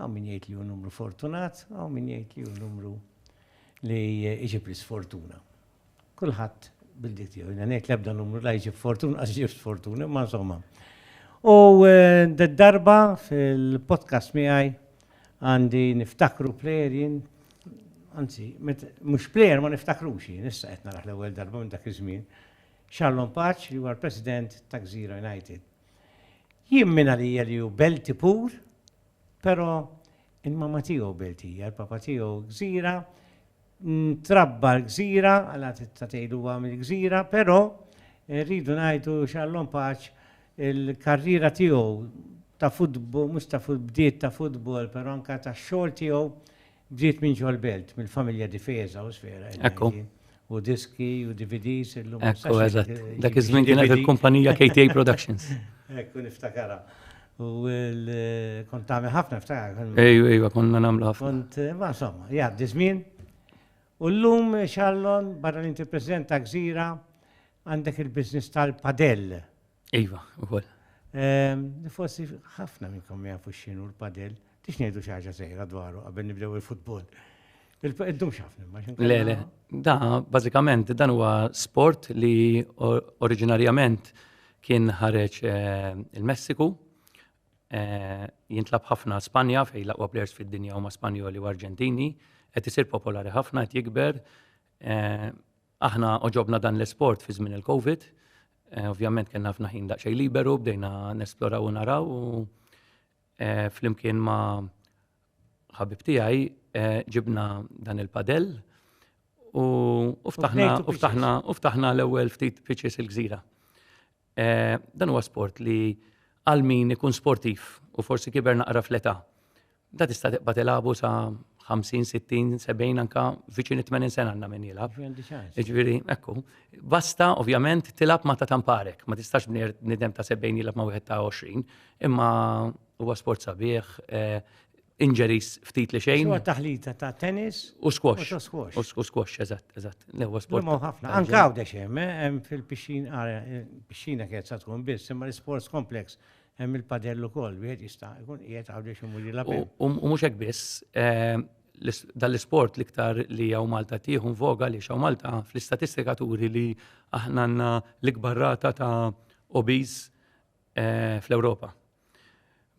Hawn min jgħid li hu numru fortunat, hawn min jgħid li hu numru li jġib l-isfortuna. Kulħadd bil-diet tiegħu. Jiena ngħid l-ebda numru la jġib fortuna, qas jġib sfortuna, imma insomma. U d-darba fil-podcast miegħi għandi niftakru plejer jien, anzi, mhux plejer ma niftakrux jien, issa qed naraħ l-ewwel darba minn dak iż-żmien, Charlon Paċ li huwa l-President ta' Gżira United. Jien minn għalija li hu Belti pur, però il-mamma tiegħu Beltija, il-papa tiegħu Gżira, ntrabba l-Gżira, għala tista' tgħid huwa mill-Gżira, però rridu ngħidu x'għallhom paċ il-karriera tiegħu ta' futbol, mhux ta' futbol, bdiet ta' futbol, però anke tax-xogħol tiegħu Ġiet minn ġol-belt, mill-familja Difesa u Sfera Energy. U diski u DVDs illum. Ekku, eżatt. Dak iż-żmien kienet il-kumpanija KTA Productions. Ekku, niftakarha. U kont tagħmel ħafna ftakar. Ejwa, ejwa, konna nagħmlu ħafna. Kont, ma insomma, jgħaddi żmien. U llum, Charlon, barra li inti President ta' Gżira, għandek il-business tal-padel. Iva, u koll. Ehm, forsi ħafna minnkom jafu xinu l-padel, tix nejdu xaġa sejra dwaru għabben nibdew il-futbol. Intom xafni, ma Le, le, da, bazikament, dan huwa sport li oriġinarjament kien ħareġ eh, il-Messiku, eh, jintlab ħafna Spanja fej laqwa players fid-dinja huma Spanjoli u Arġentini, qed isir popolari ħafna, qed jikber. Eh, Aħna oġobna dan l-isport fi żmien il-Covid. Eh, ovvjament kellna ħafna ħin daqsxejn liberu, bdejna nesploraw u naraw u eh, flimkien ma' ħabib tiegħi eh, ġibna dan il-padell u ftaħna l-ewwel ftit pitches il-gżira. Eh, dan huwa sport li għal min ikun sportiv u forsi kiber naqra fl-età. Da tista' tibqa' tilagħbu sa 50, 60, 70 anka viċin 80 sena għandna min jilgħab. Ġifieri, ekku. Basta ovvjament tilgħab ma ta' tamparek, ma tistax bnier nidem ta' 70 jilgħab ma' wieħed ta' 20, imma huwa sport sabiħ, eh, injuries ftit li xejn. Huwa taħlita ta' tennis u squash. U squash, eżatt, eżatt. L-ewwel sport. Imma ħafna. Anke għawdex eh, hemm, fil-pixxina, ah, eh, pixxina kienet sa tkun biss, imma l-sports complex hemm il-padell ukoll, wieħed jista' jkun qiegħed għawdex imur jilgħab. U mhux hekk biss, eh, dal-isport l-iktar li għaw Malta tieħu voga li xaw Malta fl-istatistika turi li aħna għandna l-ikbar rata ta' obese fl-Ewropa.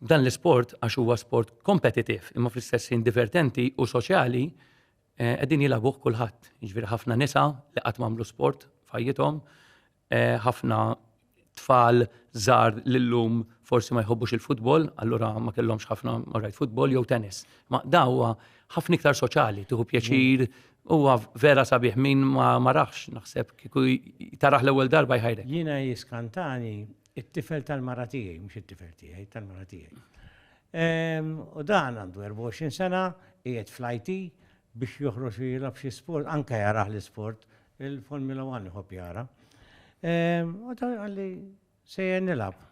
F'dan l-isport, għax huwa sport kompetitiv imma fl-istess ħin divertenti u soċjali, eh, qegħdin jilagħbuh kulħadd. Jiġifieri ħafna nisa li qatt m'għamlu sport f'ħajjithom, eh, ħafna tfal żgħar lillum forsi ma jħobbux il-futbol, allura ma kellhomx ħafna marrajt futbol jew tennis. Ma dawwa ħafna iktar soċjali, tieħu pjaċir, huwa vera sabiħ min ma marax naħseb kieku taraħ l-ewwel darba jħajrek. Jiena jiskantani It-tifel tal-mara tiegħi, mhux it-tifel tiegħi, tal-mara tiegħi. Ehm, u dan għandu 24 sena, qiegħed fl-IT biex joħroġ u jilab xi sport, anke jarah l-isport, il-Formula 1 iħobb jara. Ehm, u ta' għalli sejjer nilab.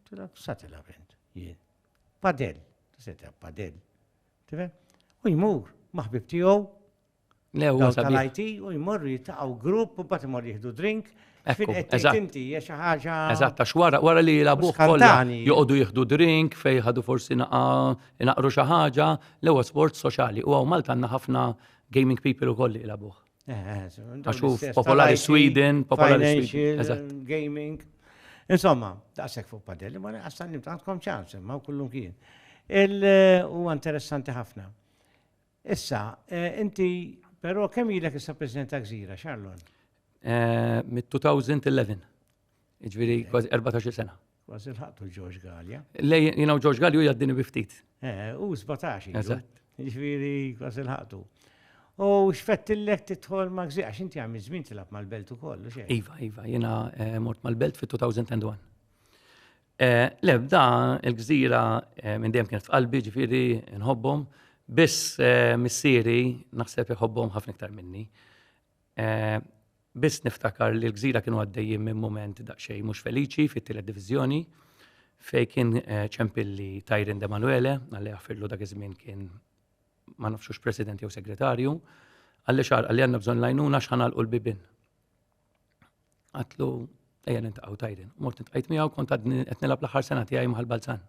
Tilab, sa tilab int, jien. Padel, se tilab padel. U jmur, maħbib tiegħu, L-ewwel tal-IT u jmorru jitaqgħu grupp u mbagħad imorru jieħdu drink Fin qed tinti hija xi ħaġa. Eżatt, għax wara wara li jilagħbuh kollha joqogħdu jieħdu drink fejn ħadu forsi naqru xi ħaġa, l-ewwel sport soċjali u hawn Malta għandna ħafna gaming people ukoll li jilagħbuh. Għax hu popolari Sweden, popolari Sweden. Gaming. Insomma, daqshekk fuq padelli, ma naqsan nimtantkom ċans, ma kullum kien. Il huwa interessanti ħafna. Issa, inti, però kemm ilek issa President ta' Gżira, Charlon? Mit-2011. Ġviri, kważi 14 sena. Kważi l-ħattu George Gallia. Lej, jinaw George Gallia u jaddini biftit. Eh, u 17. Eżatt. Ġviri, kważi l-ħattu. U xfettillek titħol ma' gżiq, għax inti għamil żmien tilab mal-belt u kollu xejn. Iva, iva, jina eh, mort mal-belt fit-2001. Eh, le, da il-gżira eh, minn dejjem kienet f'qalbi, ġifieri nħobbhom, biss eh, missieri naħseb iħobbhom ħafna iktar minni. Eh, biss niftakar li l-gżira kienu għaddejjin minn moment daqsxejn mhux feliċi fit-tielet diviżjoni fej kien eh, ċempilli Tajrin de Manuele, għalli għafirlu dak iż-żmien kien ma nafxux president jew segretarju, għalli xar għalli għanna bżon lajnuna xħan għal bibin Għatlu, ejja nintaqgħu tajden. Mort nintqajt miegħu kont għadni qed nilgħab l-aħħar sena tiegħi maħal Balzan.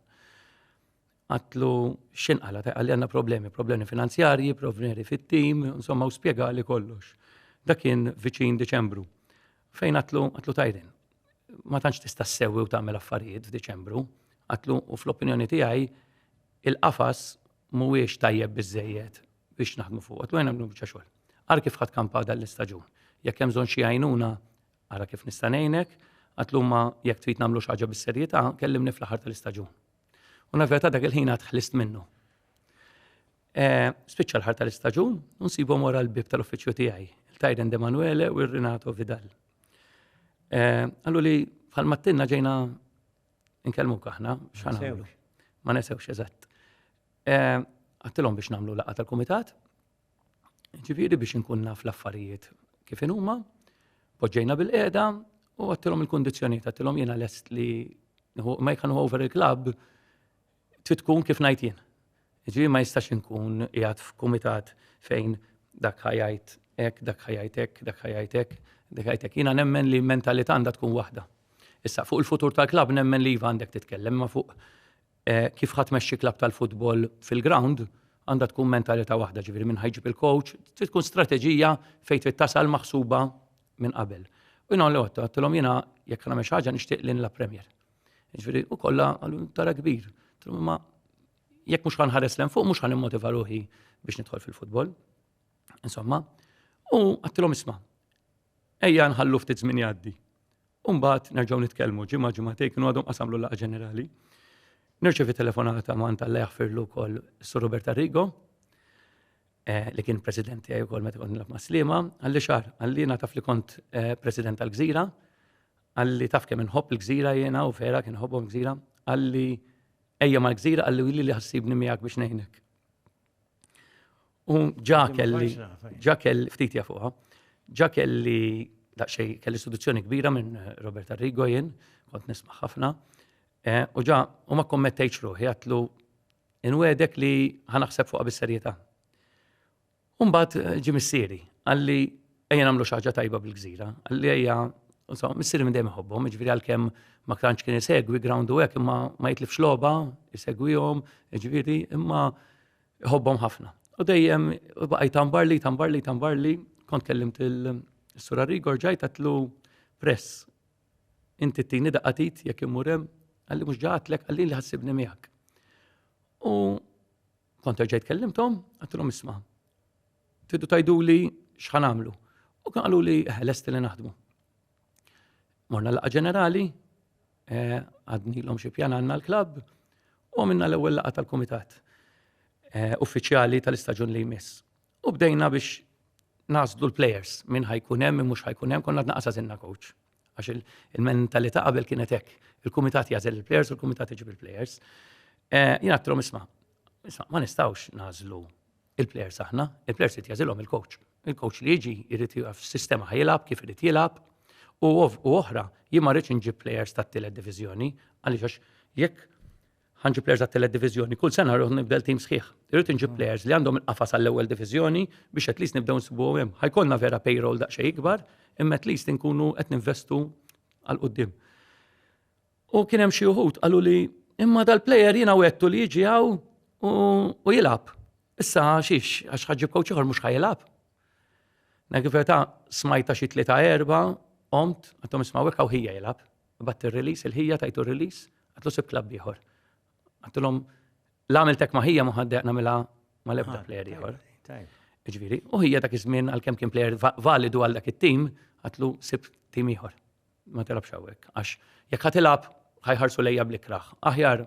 Għatlu x'in qala ta' għalli għandna problemi, problemi finanzjarji, problemi fit-tim, insomma u spjega li kollox. Dak kien viċin Deċembru. Fejn għatlu għatlu tajden. Ma tantx tista' ssewwi u tagħmel affarijiet f'Deċembru. Għatlu u fl-opinjoni tiegħi il-qafas mhuwiex tajjeb biżżejjed biex naħdmu fuq qed wejna nagħmlu biċċa xogħol. Ara kif ħadd kampa dan l-istaġun. Jekk hemm bżonn xi għajnuna, ara kif nista' ngħinek, għatlumma jekk trid nagħmlu xi ħaġa bis-serjetà, kellimni fl-aħħar tal-istaġun. U naveta dak il-ħin għad ħlist minnu. Eh, spiċċa l-ħar tal-istaġun, unsibhom wara l-bib tal-uffiċċju tiegħi, il-Tajden De Manuele u r-Renato Vidal. Eh, għallu li bħal mattinna ġejna Nkellmuk aħna, x'ħanamlu. Ma nesewx eżatt. Eh, għattilhom biex nagħmlu laqgħa tal-kumitat, ġifieri biex inkun naf l-affarijiet kif inhuma, poġġejna bil-qiegħda u għattilhom il-kundizzjonijiet, għattilhom jiena lest li ma jkunu over il-klabb Trid tkun kif ngħid jien. Jiġifieri ma jistax inkun qiegħed f'kumitat fejn dak ħajajt hekk, dak ħajajt hekk, dak ħajajt hekk, dak ħajajt hekk. Jiena nemmen li mentalità għandha tkun waħda. Issa fuq il-futur tal-klabb nemmen li iva għandek titkellem ma fuq eh, kif ħadd mexxi klabb tal-futbol fil-ground għandha tkun mentalità waħda ġifieri minn ħajġib il-coach, trid tkun strateġija fejn trid tasal maħsuba minn qabel. U jina l-għotta, għattilom jina jek nagħmel xi ħaġa nixtieq lin la Premier. Ġviri, u kolla għallu tara kbir. Ma jekk mux għan ħares l fuq, mux għan immotiva ruħi biex nidħol fil-futbol. Insomma, u għattilom isma. Ejja nħallu ftit żmien jgħaddi. Umbat nerġgħu nitkellmu ġimgħa ġimgħatej kienu għadhom qasamlu laqa ġenerali. Nirċevi telefonata ma' anta li jaħfirlu kol Sur Robert Arrigo, eh, li kien president tiegħi wkoll meta kont nilgħab ma' Slima, għalli xar, għalli nagħtaf li kont eh, president tal-Gżira, Qalli taf kemm inħobb il-gżira jiena u vera kien ħobbhom gżira. Qalli ejja mal-gżira qalli u li ħassibni miegħek biex ngħinek. U ġa kelli, ġa kelli, ftit jafuha, ġa kelli daqxej kelli istituzzjoni kbira minn Robert Arrigo jien, kont nisma' ħafna. Eh, u ġa, u ma kommettejċ ruħi, għatlu, inwedek li ħanaħseb fuqa bis-serjetà. Umbagħad ġie missieri, qalli ejja nagħmlu xi ħaġa tajba bil-gżira, qalli ejja Insomma, missieri minn dejjem iħobbhom, jiġifieri għalkemm ma tantx kien isegwi ground u hekk imma ma jitlifx logħba, isegwihom, jiġifieri imma iħobbhom ħafna. U dejjem baqaj tambar li, tambar li, tambar li, kont kellimt il-Sur Arrigo rġajt għatlu press. Inti t-tini daqqatit jekk imurem, għalli mhux ġatlek, għalli li ħassibni miegħek. U Kont ġejt kellimtom, għattilhom isma. Tiddu tajdu li xħan għamlu. U kan għallu li eh, l-est li naħdmu. Morna laqa ġenerali, eh, għadni l-om xie pjan għanna l-klab, u għamilna l-ewel laqa tal-komitat eh, uffiċjali tal-istagġun li jmiss. U bdejna biex nażlu l-players minn ħajkun hemm mhux ħajkun hemm konna tnaqas għażilna coach. Għax il-mentalità qabel kienet hekk. Il-kumitat jażel il-players u l-kumitat iġib il-players. Eh, jien għattrom isma' isma' ma nistgħux nażlu il-players aħna, il-players qed jażilhom il-coach. Il-coach li jiġi jrid jaf sistema ħajilab kif irid jilab u oħra jien ma rridx inġib players tat-tielet diviżjoni għaliex jekk ħanġib players għat-telet diviżjoni, kull sena rruħ nibdel tim sħiħ. Irrid inġib mm. players li għandhom il-qafas għall-ewwel diviżjoni biex at least nibdew nsibu hemm. Ħajkollna vera payroll daqsxejn ikbar, imma at least inkunu qed ninvestu għal qudiem. U kien hemm xi wħud qalu li imma dal-player jiena wettu li jiġi hawn u jilgħab. Issa xiex għax ħaġġib kowċ ieħor mhux ħajilgħab. Nekifeta smajta xi tlieta erba' omt għatom isma' hekk hawn ħija jilgħab. Batt ir-release, il-ħija tajtu r-release, għatlu sib klabb ieħor. Għattilhom l-għamil tek maħija muħaddeq namilha ma lebda ah, player ieħor. Ġviri, u ħija dak iż-żmien għal-kem kien player validu għal dak it-tim, għatlu sib tim ieħor. Ma tilabx hawnhekk. Għax jekk ħatilab ħajħarsu lejja bl-ikraħ. Aħjar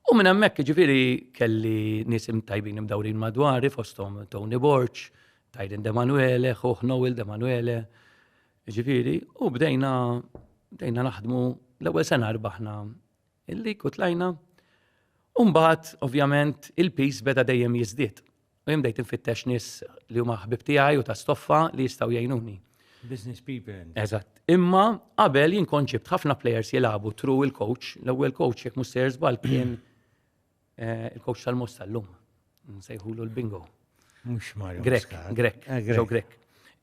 U minn hemmhekk ġifieri kelli nies imtajbin imdawrin madwari fosthom Tony Borċ, Tyron De Manuele, ħuħ Noel De Manuele, ġifieri, u bdejna bdejna naħdmu l-ewwel sena rbaħna il-lik u tlajna. Umbagħad, ovvjament, il-pis beda dejjem jiżdied. U jien bdejt infittex nies li huma ħbib tiegħi u ta' stoffa li jistgħu jgħinuni. Business people. Eżatt. Imma qabel jien kont ġibt ħafna players jilagħbu tru il-coach, l-ewwel coach jekk mhux sejr żball kien eh, il-coach tal-Moss tal-lum. Nsejħulu l-bingo. Mhux Mario. Grek, Grek, ġew eh, Grek.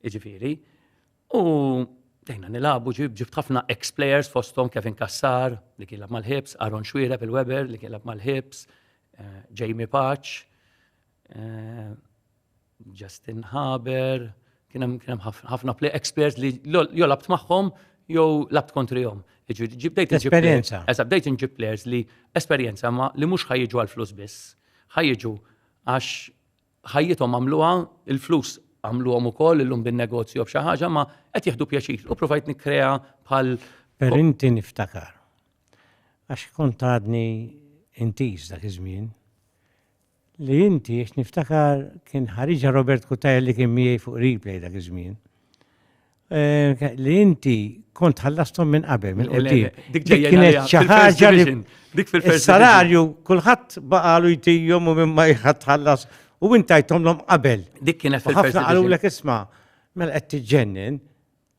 Iġifieri. U dejna nilabu ġib ġibt ħafna ex-players fostom Kevin Kassar li kien lab mal-Hibs, Aaron Xwira fil-Weber li kien lab mal-Hibs, eh, Jamie Paċ, eh, Justin Haber, kien hemm ħafna play ex-players li jo labt magħhom jew labt kontrihom. Bdejt esperjenza. Eżatt, bdejt inġib players li esperjenza ma li mhux ħajġu għal flus biss, ħajġu għax ħajjithom għamluha, il-flus għamluhom ukoll illum bin-negozju jew b'xi ħaġa ma qed jieħdu pjaċir u provajt nikkrea bħal Per inti niftakar. Għax kont għadni intiż dak iż-żmien. Li inti għax niftakar kien ħariġha Robert Cutajar li kien miegħi fuq replay dak iż-żmien. Eh, li inti kont ħallastom minn qabel, minn qeddim. Dik kienet xi ħaġa li dik fil Salarju kulħadd baqalu jtijhom u minn ma jħadd ħallas u inti jtomlhom qabel. Dik kienet fil Ħafna qalu lek isma' mela qed tiġġennin.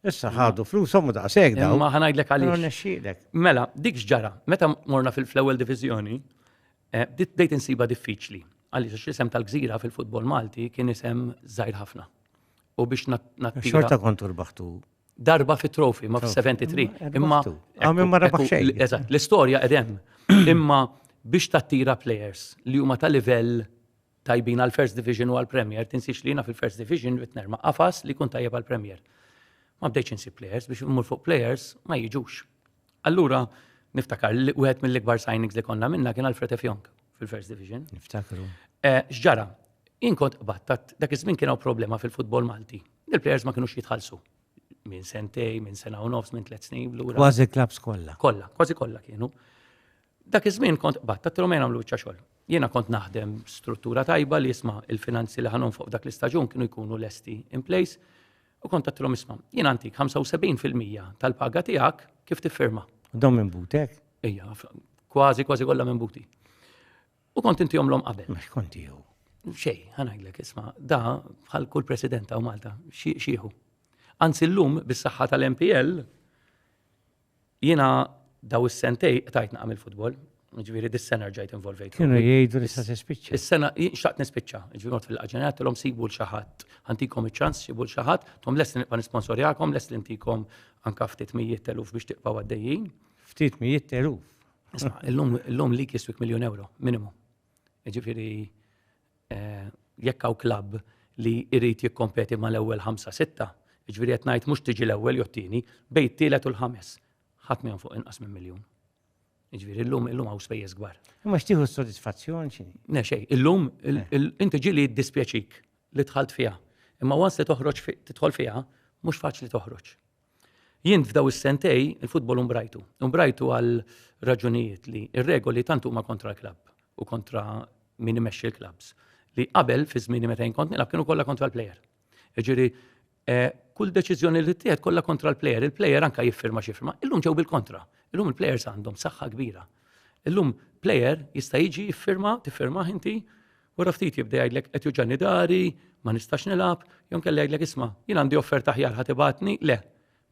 Issa ħadu flushom u daqshekk daw. Ma ħanajdlek għaliex. Mela, dik x'ġara, meta morna fil-ewwel diviżjoni, eh, bdejt insiba diffiċli. Għaliex isem tal-gżira fil-futbol Malti kien isem żgħir ħafna. u biex nattira. Xorta kontu rbaħtu. Darba fi trofi, ma f-73. Imma. Għamil ma rabax xejn. Eżat, l-istoria edem. Imma biex tattira players li huma ta' livell tajbin għal First Division u għal Premier, tinsiex li jina fil-First Division bit nerma qafas li kun tajjeb għal Premier. Ma bdejċ insib players, biex immur fuq players ma jiġux. Allura, niftakar, wieħed mill-ikbar signings li konna minna kien Alfred F. Young fil-First Division. Niftakru. Eh, xġara, jien kont qbattat, dak iż-żmien kien hawn problema fil-futbol Malti. Il-plejers ma kienux jitħallsu. Minn sentej, minn sena u nofs, minn tliet snin lura. Kważi klabs kollha. Kollha, kważi kollha kienu. Dak iż-żmien kont qbattat tilhom jien għamlu xogħol. Jiena kont naħdem struttura tajba li jisma' il-finanzi li ħanhom fuq dak l-istaġun kienu jkunu lesti in place. U kont għattilhom isma, jien għantik 75% tal-paga tiegħek kif tiffirma. Dom minn butek? Ija, kważi kważi kollha minn buti. U kont inti jomlom qabel. Mux kont jew. Xej, ħanajlek isma, da bħal kull president ta' Malta, xieħu. Anzi l-lum bis-saħħa tal-MPL, Jiena daw is-sentej qtajt naqa' mill-futbol, ġifieri dis-sena rġajt involvejt. Kienu jgħidu li se tispiċċa. Is-sena xtaqt nispiċċa, ġifieri mod fil-qaġenja tilhom sibu l xi ħadd, ħantikom iċ-ċans sibu l xi ħadd, tom lest nibqa' nisponsorjakom, lest li ntikom anka ftit mijiet teluf biex tibqgħu għaddejjin. Ftit mijiet teluf. Isma' illum illum li kiswik miljun euro minimu. Ġifieri jekk hawn klabb li jrid jikkompeti mal-ewwel ħamsa sitta, jiġifieri qed ngħid mhux tiġi l-ewwel jew t-tieni, bejn it-tielet u l-ħames, ħadd ma jonfoq inqas minn miljun. Jiġifieri llum illum hawn spejjeż kbar. Imma x'tieħu s-sodisfazzjon xi? Ne xejn, illum inti ġieli jiddispjaċik li dħalt fiha. Imma once li toħroġ tidħol fiha, mhux faċli toħroġ. Jien f'daw is-sentej il-futbol umbrajtu. Umbrajtu għal raġunijiet li ir-regoli tant huma kontra l-klabb u kontra min imexxi l-klabbs li qabel fi żmieni meta jinkont nilgħab kienu kollha kontra l-plejer. Ġiri, eh, kull deċiżjoni li tieħed kollha kontra l-plejer, il-plejer anka jiffirma xi firma. Illum ġew bil-kontra. Illum il-plejers għandhom saħħa kbira. Illum plejer jista' jiġi jiffirma, tiffirma inti Wara ftit jibda jgħidlek qed juġani dari, ma nistax nilgħab, jew kelli jgħidlek isma' jien għandi offerta aħjar ħadd ibatni, le.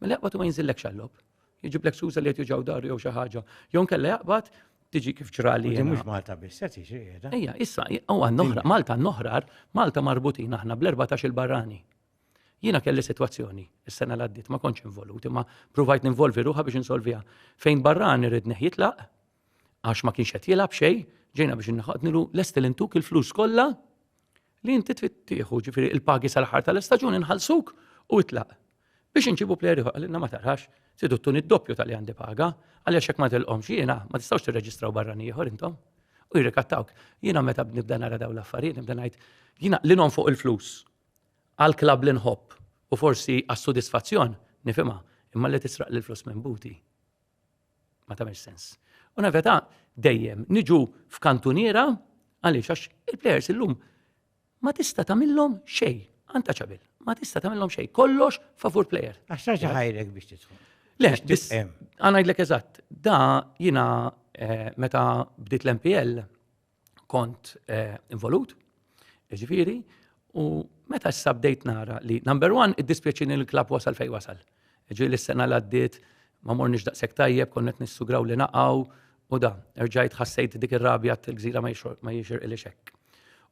Mela jaqbad u ma jinżillekx għall-lob. Jiġiblek suża li qed juġaw daru jew xi ħaġa. Jew kellha jaqbad tiġi kif ġrali. Din mhux Malta biss qed jiġri qiegħda. Ejja, issa u għandna Malta noħrar, Malta marbutin aħna bl-14 il-barrani. Jiena kelli sitwazzjoni is-sena l-għaddiet ma kontx involut imma provajt ninvolvi ruħa biex insolviha. Fejn barrani ridni jitlaq, għax ma kienx qed jilgħab xejn, ġejna biex inħaqnilu lesti li ntuk il-flus kollha li inti trid tieħu, ġifieri il-pagi sal-aħħar tal-istaġun inħallsuk u itlaq. Biex inġibu plejer ieħor qalilna ma tarax, tridu tuni d-doppju tal-li għandi paga, għaliex hekk ma tilqomx jiena ma tistgħux tirreġistraw barrani ieħor intom. U jirrikattawk. Jiena meta nibda nara dawn l-affarijiet, nibda ngħid jiena li non fuq il-flus għal klab li nħobb u forsi għas-sodisfazzjon nifhimha imma li tisraq l-flus minn buti. Ma tagħmilx sens. U naveta dejjem niġu f'kantuniera għaliex għax il-plejers illum ma tista' tagħmilhom xejn, anta ċabil, ma tista' tagħmilhom xejn, kollox favur plejer. Għax ħajrek biex tidħol. Le, għanajdlek eżatt, da jina eh, meta bdiet l-MPL, kont eh, involut, ġifiri, u meta issa bdejt nara li number one, id-dispjaċini l-klab wasal fej wasal. Ġi l-sena l-għaddit, ma mornix daqsek tajjeb, konnet nissugraw li naqaw, u da, rġajt ħassejt dik ir-rabja t-gżira ma jixir il xekk.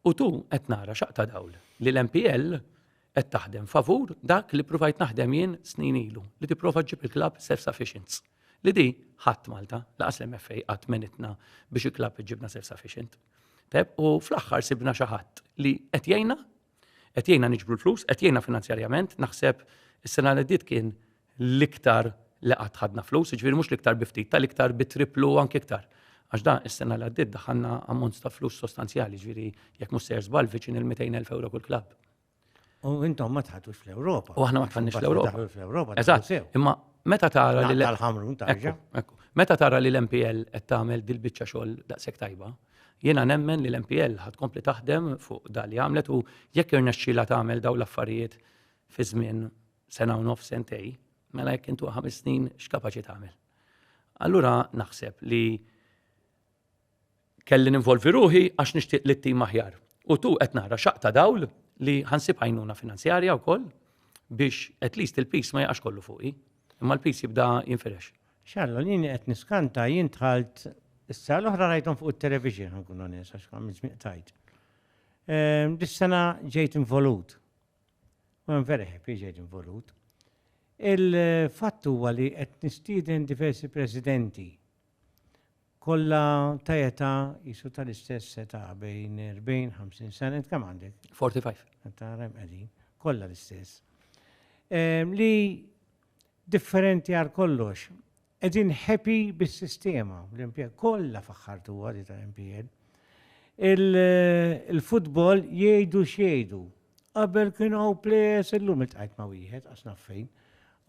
U tu qed nara xaqta dawl li l-MPL qed taħdem favur dak li provajt naħdem jien snin ilu li tipprova ġib il-klab self-sufficient. Li di ħadd Malta, laqas l-MFA qatt menitna biex il-klab iġibna self-sufficient. Teb, u fl-aħħar sibna xi ħadd li qed jgħinna, qed jgħinna niġbru l-flus, qed jgħinna finanzjarjament, naħseb is-sena li dit kien l-iktar li qatt ħadna flus, jiġifieri mhux l-iktar bi ftit, tal-iktar bi triplu u anke iktar. Għax da is-sena li għaddiet daħanna ammont ta' flus sostanzjali, ġifieri jekk mhux sejr żball viċin il-200,000 euro kull klabb. U intom ma tħatux fl-Ewropa. U aħna ma tħannix fl-Ewropa. Eżatt, imma meta tara li l-ħamrun tarġa. Meta tara li l-MPL qed tagħmel dil-biċċa xogħol daqshekk tajba, jiena nemmen li l-MPL ħad kompli taħdem fuq dal li għamlet u jekk irnexxila tagħmel dawn l-affarijiet fi żmien sena u nofs sentej, mela jekk intu ħames snin x'kapaċi tagħmel. Allura naħseb li kelli ninvolvi ruħi għax nixtieq li t-tim aħjar. U tu qed nara xaqta dawl li ħansib għajnuna finanzjarja wkoll biex at least il-pis ma jaqax kollu fuqi, imma l-pis jibda jinfirex. Xallu, jien qed niskanta jien tħalt issa l-oħra rajtom fuq it-television nkun onest għax għamil tajt. Ehm, dis-sena ġejt involut u hemm vera ħepiġeġ involut. Il-fatt huwa li qed nistieden diversi presidenti kollha ta' età jisu tal-istess età bejn 40-50 sena kemm għandek? 45. Ta' rem qegħdin, kollha l-istess. Ehm, li differenti għal kollox Qegħdin happy bis-sistema, l-impjeg kollha faħħartuha di tal-impjeg. Il-futbol jgħidu x'jgħidu. Qabel kienu hawn plejers illum iltqajt ma' wieħed għax naf fejn.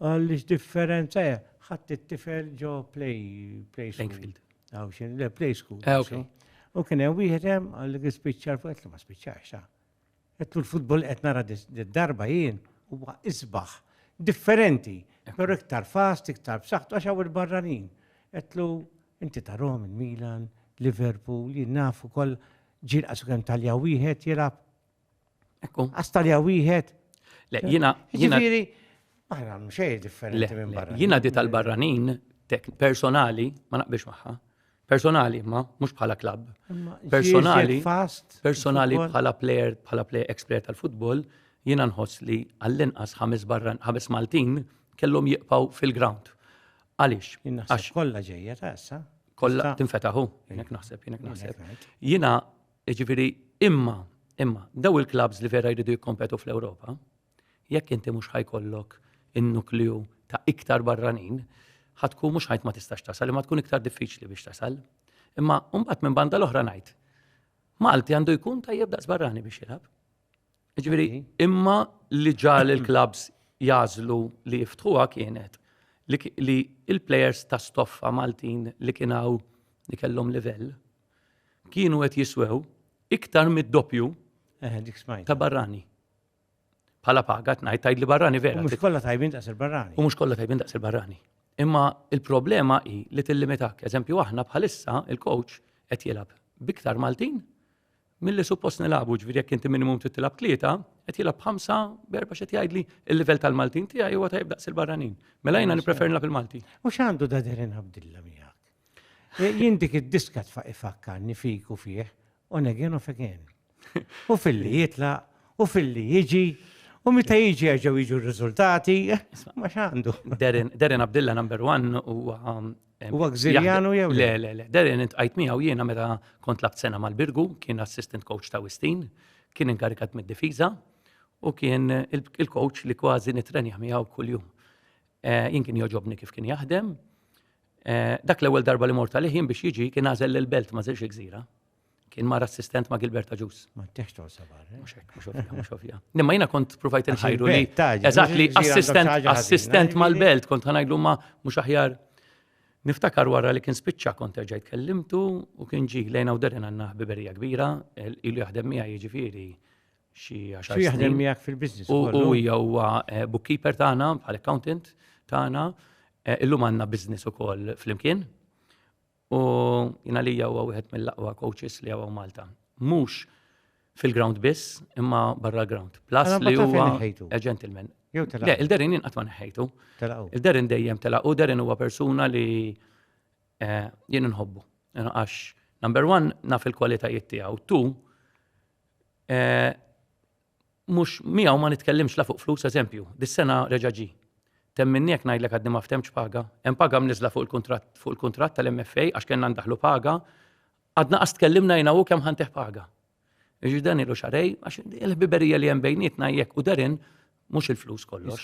Għaliex differenza hija ħadd it-tifel ġo play play school. Għaw xin, le play school. Ah, okay. U kien hemm wieħed hemm għal spiċċar fuq qed li ma spiċċax ta. Għettu l-futbol qed nara d-darba jien huwa isbaħ. Differenti, pero iktar fast, iktar b'saħħtu għax hawn il-barranin. Għettu inti tarom il-Milan, Liverpool, jien nafu kol ġir qasu kemm talja wieħed jilab. Ekku. Għas talja wieħed. Le, jina. Jina. Aħna mxej differenti minn barra. Jina di tal-barranin personali ma naqbix maħħa. Personali, ma mhux bħala klabb. Personali, personali bħala player, bħala player ex-player tal-futbol, jiena nħoss li għall-inqas ħames barran, ħames Maltin kellhom jiqpaw fil-ground. Għaliex? Għax kollha ġejja ta' issa. Kollha tinfetaħu, jinek naħseb, jinek naħseb. Jiena, ġifieri, imma, imma, daw il-klabs li vera jridu jikkompetu fl-Ewropa, Jekk inti mhux ħa jkollok in-nukleu ta' iktar barranin, ħa tkun mhux ħajt ma tistax tasal, imma tkun iktar diffiċli biex tasal. Imma mbagħad minn banda l-oħra ngħid, Malti għandu jkun tajjeb daqs barrani biex jilgħab. Ġifieri, imma li ġal il-klabs jażlu li jiftħuha kienet li il-plejers ta' stoffa Maltin li kienaw li kellhom livell kienu qed jiswew iktar mid-doppju eh, ta' barrani. Bħala paga, tnajt tajd li barrani vera. Mux kolla tajbin daqs il-barrani. U mux kolla tajbin daqs il-barrani. Imma il-problema hi li tillimitak. Eżempju, aħna bħalissa il-coach qed jilab biktar Maltin mill-li suppost nilabu ġviri jekk inti minimum titilab tlieta, qed jilab ħamsa berba xed jgħidli il-livell tal-Maltin tiegħi huwa tajb daqs il-barranin. Mela jiena nipprefer nilab il-Malti. U x'għandu da derin Abdilla miegħek? Eh, jien dik id-diska tfaq ifakkarni fiku fih On again, off again. U filli jitla, u filli jiġi, u meta jiġi għagħu jiġu r-riżultati, ma xandu. Derin Abdilla number one u um, U għagżirjanu jew le? Le, le, Derin għajt miegħu jiena meta kont labt sena mal-Birgu, kien assistant coach ta' Wistin, kien inkarikat mid-difiża u kien il-coach li kważi nitrenja miegħu kuljum. Eh, jien kien joġobni kif kien jaħdem, Eh, dak l-ewwel darba li mort għalih jien biex jiġi kien għażel lil belt ma żilx gżira. Kien mar assistent ma' Gilberta Ġus. Ma teħx tol sabar. Eh? Mhux hekk, mhux ovvja, mhux ovvja. Nimma jiena kont provajt inħajru li. Eżatt li assistent assistent mal-belt kont ħanajlu ma mhux aħjar. Niftakar wara li kien spiċċa kont terġajt kellimtu u kien ġi lejna u derin għandna ħbiberija kbira, ilu jaħdem miegħi jiġifieri xi għaxar. Xi jaħdem miegħek fil-business. U hija huwa eh, bookkeeper tagħna, bħal accountant tagħna. Eh, illum għandna business ukoll flimkien. U jina li huwa wieħed mill-aqwa coaches li għaw Malta. Mhux fil-ground biss, imma barra l-ground. Plus li huwa eh, gentleman. Le, il-derin jinqat ma neħħejtu. Il-derin dejjem telaqu, derin huwa persuna li jien nħobbu. Għax, number one, naf il-kwalitajiet tiegħu. Tu, eh, mhux miegħu ma nitkellimx la fuq flus eżempju, dis-sena reġa' ġi. Temminni jekk ngħidlek għadni ma ftemx paga, hemm paga mniżla fuq il-kuntratt fuq il-kuntratt tal-MFA għax kellna ndaħlu paga, għadna qas tkellimna jina u kemm ħanteħ paga. Iġi dan ilu xarej, għax il-ħbiberija li hemm bejnietna jekk u derin mhux il-flus kollox.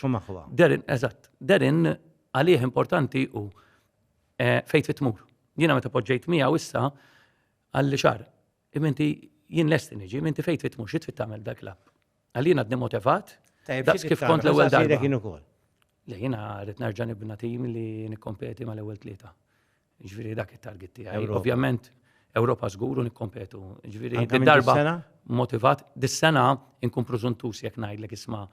Derin, eżatt, derin għalih importanti u eh, fejt fit-tmur. Jiena meta poġġejt miegħu issa għalli xar Iminti jien lest niġi, iminti fejn trid mhux trid tagħmel dak l-app. Għalina qed motivat. Daqs kif kont l-ewwel darba. Kien ukoll. Le jiena rrid nerġa' nibna tim li nikkompeti mal-ewwel tlieta. Ġifieri dak it-target tiegħi. Ovvjament Ewropa żgur u nikkompetu. Ġifieri darba motivat dis-sena inkun preżuntus jekk ngħidlek isma'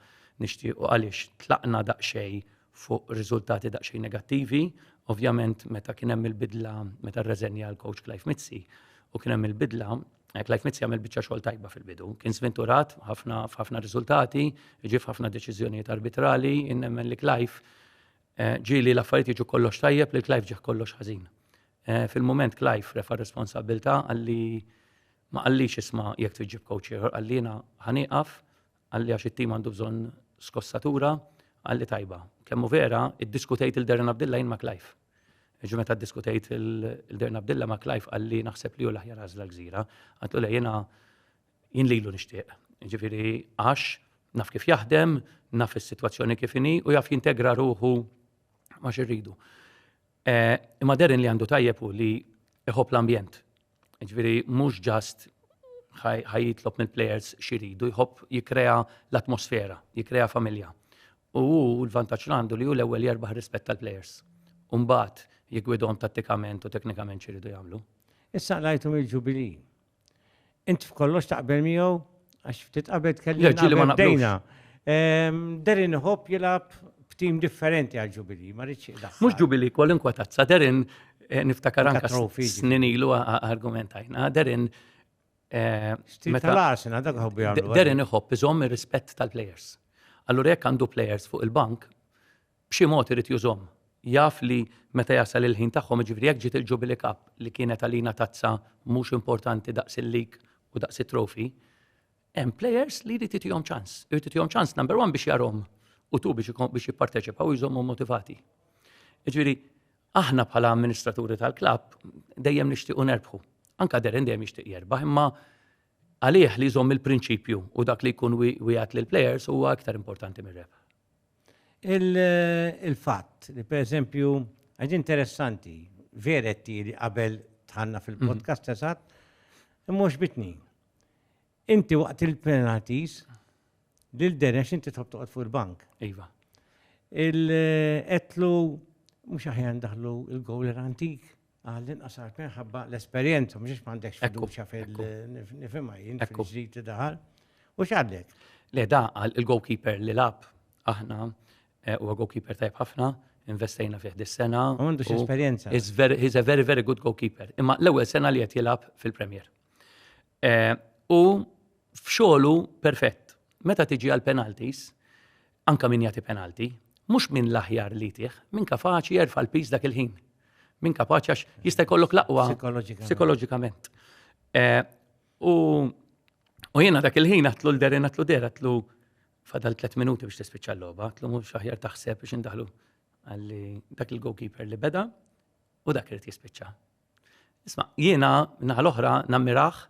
nixtiequ għaliex tlaqna daqsxejn fuq riżultati daqsxejn negattivi. Ovvjament meta kien hemm il-bidla, meta rreżenja l-coach Clive Mizzi u kien hemm il-bidla, eh, Clive Mizzi għamel biċċa xogħol tajba fil-bidu. Kien sventurat ħafna f'ħafna riżultati, ġie f'ħafna deċiżjonijiet arbitrali, innemmen li Clive eh, ġieli l-affarijiet jiġu kollox tajjeb li Clive ġieħ kollox ħażin. Eh, fil-moment Clive refa' responsabilta għalli ma għallix isma jek tġib coach ieħor, għallina ħaniqaf Qalli għax it-tim għandu bżonn skossatura, qalli tajba. Kemm hu vera, iddiskutejt il-Darren Abdilla jien ma' Clive. Ġi meta ddiskutejt il-Darren Abdilla ma' Clive qalli naħseb li hu l-aħjar għażla l-gżira. Għatlu le jiena jien lilu nixtieq. Ġifieri għax naf kif jaħdem, naf is-sitwazzjoni kif inhi u jaf jintegra ruħu ma' xirridu. Eh, imma Darren li għandu tajjeb hu li iħobb l-ambjent. Ġifieri mhux ġast ħajitlob mill-plejers xi jridu, jħobb jikkrea l-atmosfera, jikkrea familja. U hu l-vantaġġ għandu li hu l-ewwel jerbaħ rispett tal-plejers. U mbagħad jiggwidhom tattikament u teknikament xi jridu jagħmlu. Issa qlajthom il-Ġubilì. Int f'kollox taqbel miegħu Għax ftit qabel tkellimna bdejna. Derin Hop jilab f'tim differenti għal ġubili, ma rridx jilab. Mhux ġubili kwalunkwe tazza, Derin eh, niftakar anka snin ilu argumentajna, Derin eh, Meta l-asina, dak ħobbi għallu. Derin iħobb iżomm ir-rispett tal-players. Allura jekk għandu players fuq il-bank, b'xi mod irid jużhom. Jaf li meta jasal il-ħin tagħhom, jiġifieri jekk ġiet il-Jubilee Cup li kienet għalina tazza mhux importanti daqs il-League u daqs it-Trophy, hemm players li jrid jtihom ċans. Irid jtihom ċans number one biex jarahom u two biex jipparteċipaw u jżommhom motivati. Jiġifieri aħna bħala amministraturi tal-klabb dejjem nixtiequ nerbħu. Anka Deren dejjem jixtieq jerbaħ imma għalih li jżomm il-prinċipju u dak li jkun wieħed lill-players huwa aktar importanti mir-rebħ. Il-fatt li pereżempju, għax interessanti, veretti li qabel tħanna fil-podcast eżatt, imma bitni. Inti waqt il-penalties, lil Denex inti tħobb toqgħod fuq il-bank. Iva. Il-qetlu mhux aħjar daħlu il-gowl antik. Għall-inqas għax minħabba l-esperjenza, mhux għax m'għandekx fiduċja fil-nifhimha jien fil-ġdid li daħal. U x'għadlek? Le da għal il-goalkeeper li lab aħna eh, huwa goalkeeper tajb ħafna, investejna fih dis-sena. Għandux esperjenza. He's a very, very good goalkeeper. Imma l-ewwel sena li qed jilgħab fil-Premier. U f'xogħlu perfett. Meta tiġi għal penalties, anka min jagħti penalti, mhux minn l-aħjar li tih, minn kapaċi jerfa' l-piż dak il-ħin. Minn kapaċi għax jista' jkollok l-aqwa psikoloġikament. U jiena dak il-ħin għatlu l-derin għatlu der għatlu fadal 3 minuti biex tispiċċa l-logħba, għatlu mhux aħjar taħseb biex indaħlu għalli dak il-goalkeeper li beda u dak irid jispiċċa. Isma, jiena naħa l-oħra nammirah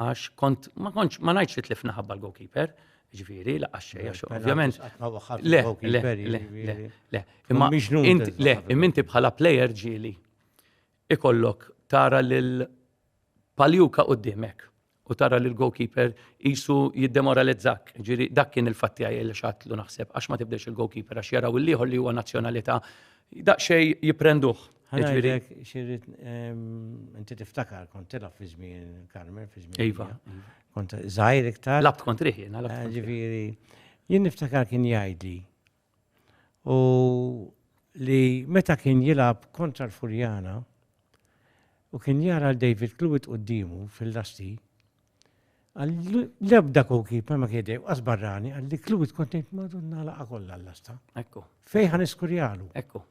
għax kont ma kontx ma ngħidx li tlifna ħabba l-goalkeeper, ġifieri laqax xejn għax ovvjament. Le, le, le, le. Imma le, imminti bħala plejer ġieli ikollok tara lil paljuka qudiemek u tara li l-goalkeeper jisu jiddemoralizzak. Ġiri, dak kien il-fatti għaj li xatlu naħseb, għax ma tibdex il-goalkeeper, għax jaraw il-liħor li huwa nazjonalita, daqxej jiprenduħ. Ġifieri- Ġifieri xirrit inti tiftakar kont tilgħab fi żmien Carmen fi żmien. Iva. Kont żgħir iktar. Labt kont riħi, labt. Ġifieri jien niftakar kien jgħidli u li meta kien jilgħab kontra l-Furjana u kien jara l David Clewitt quddiemu fil-lasti, għal l-ebda goalkeeper ma kien dejjem qas barrani għal li Clewitt kont ngħid madonna laqa kollha l-lasta. Ekku. Fejn ħan iskurjalu. Ekku.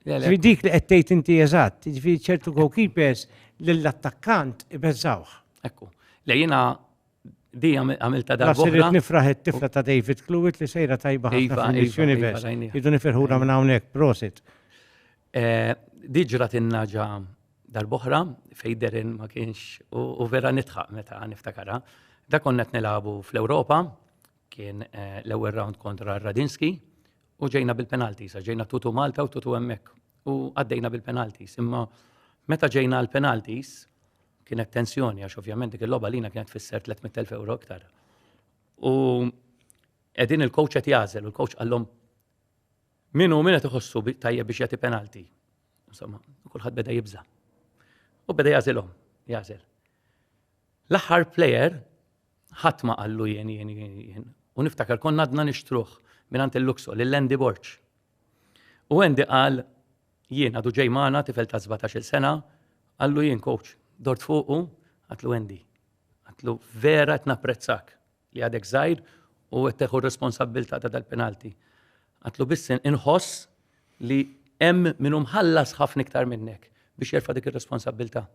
Ġifieri dik li qed tgħid inti eżatt, ġifieri ċertu goalkeepers lill-attakkant ibeżżawh. Ekku. Le jiena Di għamilta darba. Għasirit nifraħ it-tifla ta' David Cluit li sejra tajba ħafna iva, fil-Miss iva, iva, Universe. Idu nifirħura minn hawnhekk, prosit. Eh, Diġra tinnaġa darboħra fejderin ma kienx u vera nitħaq meta niftakara. Da konna t-nilabu fl-Europa, kien eh, l-ewel round kontra Radinski, u ġejna bil-penalties, għax ġejna tutu Malta u tutu hemmhekk u għaddejna bil-penalties. Imma meta ġejna għall-penalties kienet tensjoni għax ovvjament dik il-logħba lina kienet fisser 300,000 euro iktar. U qegħdin il-coach qed jażel u l-coach qallhom min hu min qed iħossu tajjeb biex jagħti penalti. Insomma, kulħadd beda jibża. U beda jażilhom, jażel. L-aħħar player Ħadd ma qallu jien jien jien. U niftakar konna għadna nixtruh mingħand il-Luxo lil Andy Borg. U Andy qal jien għadu ġej magħna tifel ta' 17-il sena, qallu jien coach, dort fuqu, għatlu Andy. Għatlu vera qed napprezzak li għadek żgħir u qed teħu r-responsabbiltà ta' dal-penalti. Għatlu biss inħoss li hemm min hu mħallas ħafna iktar minnek biex jerfa' dik ir-responsabbiltà.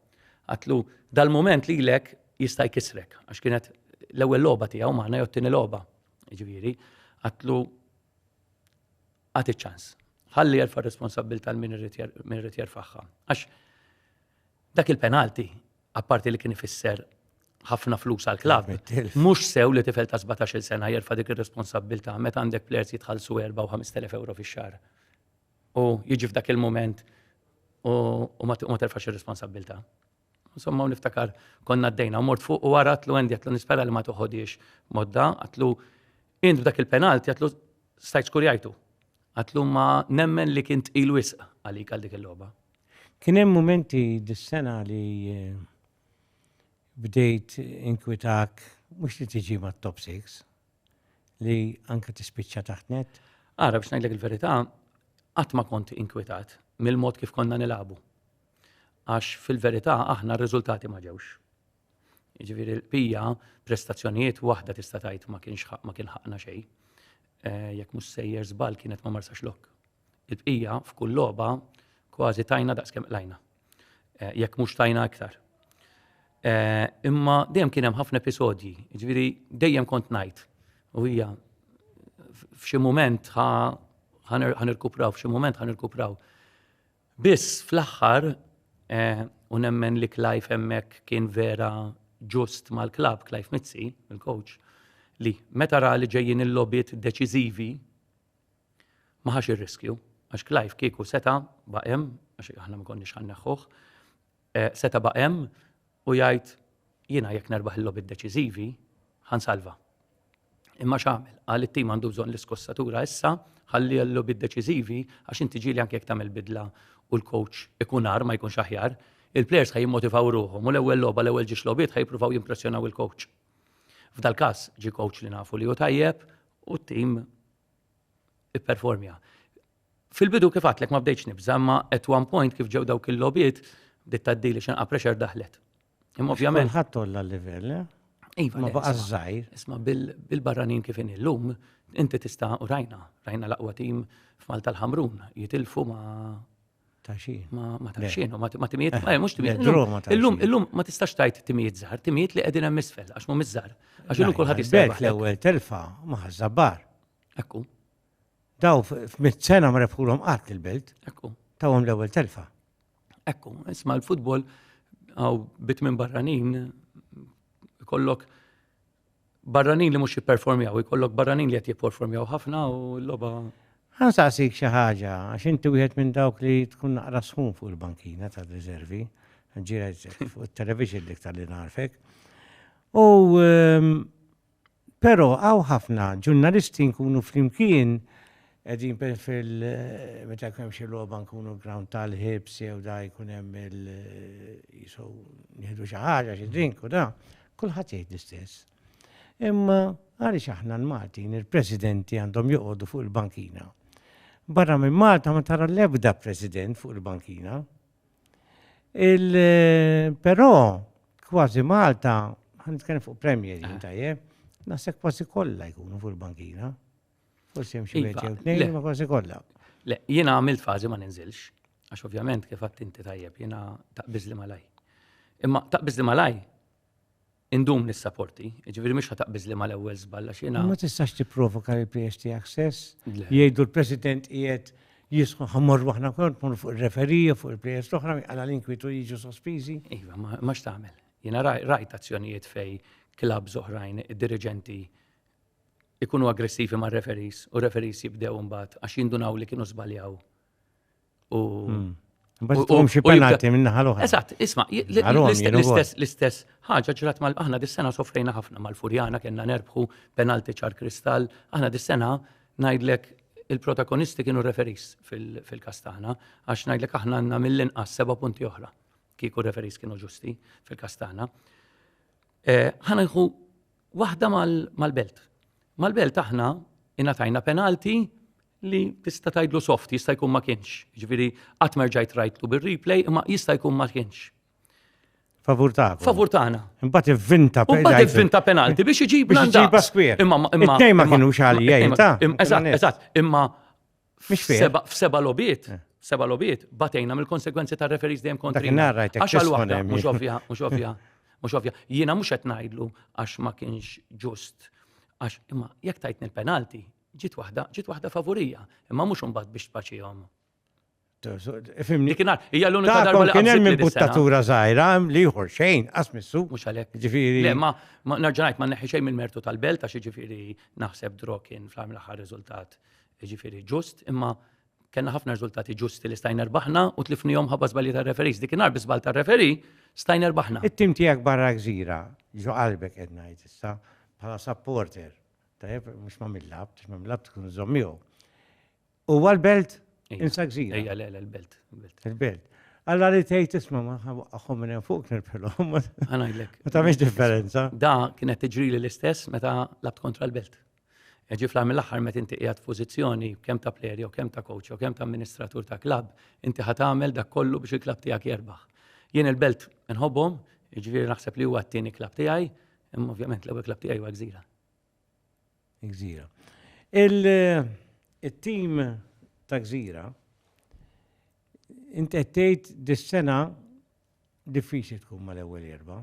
Għatlu dal-mument lilek jista' jkissrek għax kienet l-ewwel logħba tiegħu magħna jew t-tieni logħba. Ġifieri, għatlu għad iċ-ċans. Ħalli jerfa' r-responsabbiltà l min irid jerfagħha. Għax dak il-penalti apparti li kien ifisser ħafna flus għal klabb, mhux sew li tifel ta' 17-il sena jerfa' dik ir-responsabbiltà meta għandek plejers jitħallsu 4 u 5,000 euro fix-xahar. U jiġi f'dak il-mument u ma terfax ir-responsabbiltà. Insomma, u niftakar konna d-dejna, mort fuq u għara għatlu għendi għatlu nispera li ma toħodiex modda, għatlu int b'dak il-penalti għatlu stajt skurjajtu. Għatlu ma nemmen li kint il-wisq għalik għal dik il-loba. Kien hemm mumenti dis-sena li bdejt inkwitak mhux li tiġi mat-top 6, li anke tispiċċa taħt net? Ara biex ngħidlek il-verità, qatt ma kont inkwitat mill-mod kif konna nilagħbu. Għax fil-verità aħna r-riżultati ma ġewx. Jiġifieri l-bqija prestazzjonijiet waħda tista' tgħid ma kienx ma kien ħaqna xejn. Eh, jekk mhux sejjer żball kienet ma marsax lok. Il-bqija f'kull logħba kważi tajna daqs kemm qlajna. Eh, jekk mhux tajna iktar. Eh, imma dejjem kien hemm ħafna episodji, ġifieri dejjem kont ngħid u hija f'xi mument ħanirkupraw, f'xi mument ħanirkupraw. Biss fl-aħħar eh, u nemmen li Clive hemmhekk kien vera ġust mal-klab Clive Mizzi, il-coach, li meta ra li ġejjin il-lobit deċiżivi ma ħax ir-riskju għax Clive kieku seta' baqem, għax aħna ma konniex ħanneħħuh, eh, seta' baqem u jgħid jiena jekk nerbaħ il-lobi deċiżivi ħansalva. Imma x'għamel? Qal it-tim għandu bżonn l-iskossatura issa ħalli l-lobi deċiżivi għax inti ġieli anke jekk tagħmel bidla u l-coach ikun ar ma jkunx aħjar, il-players ħaj jimmotivaw ruħhom u l-ewwel logħba l-ewwel ġiex logħbiet ħaj jippruvaw jimpressjonaw il-coach. F'dal każ ġi coach li nafu li hu tajjeb, u t-tim ipperformja. Fil-bidu kif għatlek ma bdejtx nibża, imma at one point kif ġew dawk il-lobiet, bdiet taddili xinqa pressure daħlet. Imma ovvjament. Ħadd tolla l-livell, eh? Iva, ma baqa' żgħir. Isma' bil-barranin kif in illum, inti tista' u rajna, rajna l-aqwa tim f'Malta l-Ħamrun, jitilfu ma' Ta' xi. Ma ta' xi, ma ta' xi, eh, mhux timijiet. Illum, illum ma tistax tajt timijiet żgħar, timijiet li qegħdin hemm isfel għax mhum iż-żgħar. Għax illum kulħadd jisbel. L-ewwel telfa ma ħażabbar. Ekku. Daw f'mit sena ma refħulhom qatt il-belt. Ekku. Tawhom l-ewwel telfa. Ekku, isma' l-futbol għaw bit minn barranin kollok barranin li mhux jipperformjaw, ikollok barranin li qed jipperformjaw ħafna u l-logħba. Ħan saqsik xi ħaġa, għax inti wieħed minn dawk li tkun naqra sħun fuq il-bankina ta' riservi, ġiret fuq it-television dik tal-li narfek. U ehm, però għaw ħafna ġurnalisti nkunu flimkien Qegħdin per fil meta jkun hemm xi logħba nkunu ground tal-ħibs jew da jkun hemm il jisu nieħdu xi ħaġa xi drink u da, kulħadd jgħid l-istess. Imma għaliex aħna l-Maltin il-presidenti għandhom joqogħdu fuq il-bankina. Barra minn Malta ma tara l-ebda president fuq il-bankina. Il però kważi Malta ħan nitkellem fuq premier jien tajjeb, naħseb kważi kollha jkunu fuq il-bankina. Forsi hemm xi iva, wieħed jew tnejn ma kważi kollha. Le, jiena għamilt fażi ma ninżilx, għax ovvjament kif għadt inti tajjeb jiena taqbiż li malaj. Imma taqbiż li malaj indum nissaporti, ġifieri mhux taqbiż li mal-ewwel żball għax jiena. Ma tistax tipprovoka li pjiex tiegħek stess, jgħidu l-President qiegħed jisħu ħammorru aħna kont mur fuq il-referija fuq il-players l-oħra għala l-inkwitu jiġu sospiżi. Iva, ma x'tagħmel. Jiena rajt azzjonijiet fej klab oħrajn id-diriġenti ikunu aggressivi ma' referees u referees jibdew imbagħad għax jindunaw li kienu żbaljaw. U hmm. Bħalkom xi penalti minn naħa l-oħra. Eżatt, isma' l-istess l-istess ħaġa ġrat mal aħna dis-sena sofrejna ħafna mal-Furjana kellna nerbħu penalti ċar kristall, aħna dis-sena ngħidlek il-protagonisti kienu referis fil-kastana, għax ngħidlek aħna għandna mill-inqas seba' punti oħra kieku referis kienu ġusti fil-kastana. Eh, ħana nħu Waħda mal-belt. Mal-belt aħna ingħatajna penalti li tista' tgħidlu soft, jista' jkun ma kienx. Ġifieri qatt ma rġajt rajtlu bir-replay imma jista' jkun ma kienx. Favur ta' Favur tagħna. Imbagħad ivvinta penalti. Imbagħad ivvinta penalti biex iġibna. Biex iġibha skwier. Imma imma. Tnejn ma kienu xali jgħid ta. Eżatt, eżatt. Imma Seba, f'seba lobiet, eh. seba lobiet, batejna mill-konsekwenzi ta' referis dejjem kontri. Għax għal waħda, mux ovvja, mux ovvja, mux ovvja. Jiena mux qed ngħidlu għax ma kienx ġust. Għax imma jekk tajtni l-penalti, ġiet waħda, ġiet waħda favorija, imma mhux imbagħad biex tpaċihom. Fimni. Dikinar, hija l-unika darba li kien hemm imbuttatura żgħira li jħor xejn, asmissu. Mhux għalhekk. Ġifieri. Le, ma nerġa' ngħid ma neħi xejn mill-mertu tal-belt għax ġifieri naħseb dro kien fl-aħħar riżultat jiġifieri ġust, imma kellna ħafna riżultati ġusti li stajna rbaħna u tlifnihom ħabba żbalji tar-referees. Dik inhar bi żball tar-referee stajna rbaħna. It-tim tiegħek barra gżira ġo qalbek qed ngħid issa bħala supporter. Tajjeb, mhux ma' min labt, għax ma' min labt tkun iżomm miegħu. Huwa l-belt insa gżira. Ejja, le, le, l-belt. Il-belt. Alla li tgħid isma' ma aħħom minn hemm fuq nirbħilhom. Ħanajdlek. Ma tagħmilx differenza. Da kienet tiġrili l-istess meta labt kontra l-belt. E ġi fl-għar mill-aħħar meta inti qiegħed f'pożizzjoni kemm ta' plejer jew kemm ta' coach jew kemm ta' amministratur ta' klabb, inti ħa tagħmel dak kollu biex il-klabb tiegħek jerbaħ. Jien il-Belt inħobbhom, jiġifieri naħseb li huwa t-tieni klabb tiegħi, imma ovvjament l-ewwel klabb tiegħi huwa Gżira. Gżira. Il-tim ta' Gżira inti qed tgħid dis-sena diffiċli tkun mal-ewwel erba'.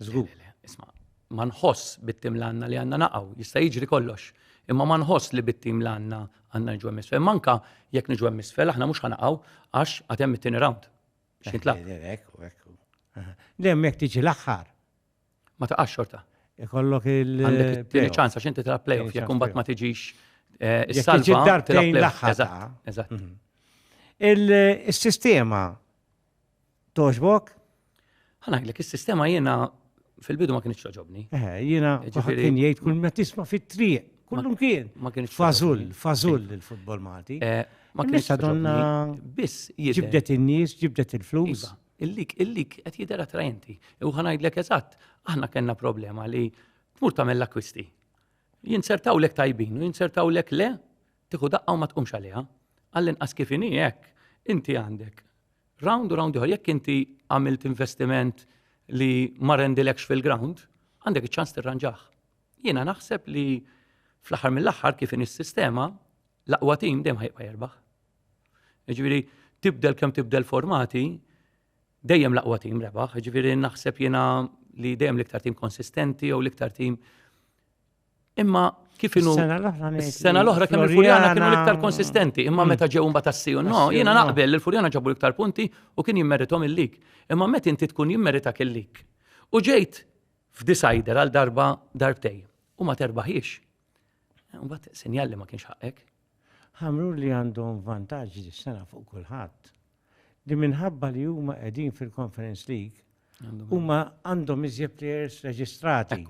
Żgur. Isma, ma nħoss bit-tim l-għanna li għanna naqaw, jista' jiġri kollox. Imma ma nħoss li bit-tim l-għanna għanna nġu emmisfel. Manka jekk nġu emmisfel, aħna mhux ħanaqaw għax għatem it-tieni round. Xintla. Dem jekk tiġi l-aħħar. Ma taqax xorta. Ikollok il- Għandek it-tieni ċansa xinti tra playoff jekk kumbat ma tiġix eh, is-salva. Darbtejn l-aħħar. Eżatt. Mhm. Il-sistema Toġbok? Ħanajlek, is-sistema jiena fil-bidu ma kienx toġobni. Eh, jiena Ġifieri- kien jgħid kull ma tisma' fit-triq, kullum kien. ma kienx Fażul, toġobni. fażul il-futbol Malti. Eh, Ma kienx Nista' donna toġobni. Biss jidher- ġibdet in-nies, ġibdet il-flus. Iva, illik, illik qed jidher attrajenti. U ħanajdlek eżatt, aħna kellna problema li tmur tagħmel l-akkwisti. Jinsertawlek tajbin u jinsertawlek le, tieħu daqqa u ma tqumx għaliha. Għall-inqas kif inhi hekk, inti għandek Round u round ieħor, jekk inti għamilt investiment li ma rendilekx fil-ground, għandek iċ-ċans tirranġaħ. Jiena naħseb li fl-aħħar mill-aħħar kif in is-sistema l-aqwa tim dejjem ħajqa jerbaħ. Ġifieri tibdel kemm tibdel formati, dejjem l-aqwa tim rebaħ, ġifieri naħseb jiena li dejjem l-iktar tim konsistenti jew l-iktar tim Imma kif inu sena l-oħra kemm il-Furjana kienu l-iktar konsistenti, imma mm. meta ġew imbagħad assiju no, jiena naqbel li l-Furjana ġabu l-iktar punti u kien jimmeritom il-lik. Imma meta inti tkun jimmerita il-lik. U ġejt f'disajder għal darba darbtej u ma terbaħiex. Mbagħad sinjal li ma kienx ħaqek. Ħamrun li għandhom vantaġġ dis-sena fuq kulħadd, li minħabba li huma qegħdin fil-Conference League, huma għandhom iżjed players reġistrati.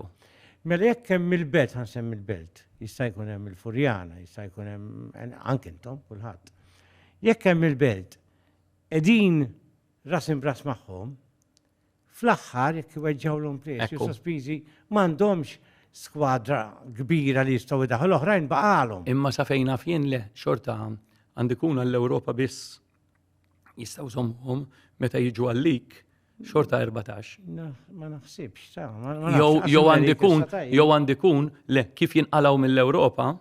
Mela jekk hemm il-belt, ħansemmi l-belt, jista' jkun hemm il-Furjana, jista' jkun hemm anke intom kulħadd. Jekk hemm il-belt, qegħdin ras imbras magħhom, fl-aħħar jekk iweġġgħulhom prezz jew sospiżi m'għandhomx skwadra kbira li jistgħu jdaħħu l-oħrajn baqgħalhom. Imma sa fejn naf jien le xorta għand ikun għall-Ewropa biss jistgħu żommhom meta jiġu għalik xorta 14. Ma naħsibx, ta' Jew għandikun, jew għandikun, le, kif jinqalaw mill-Europa,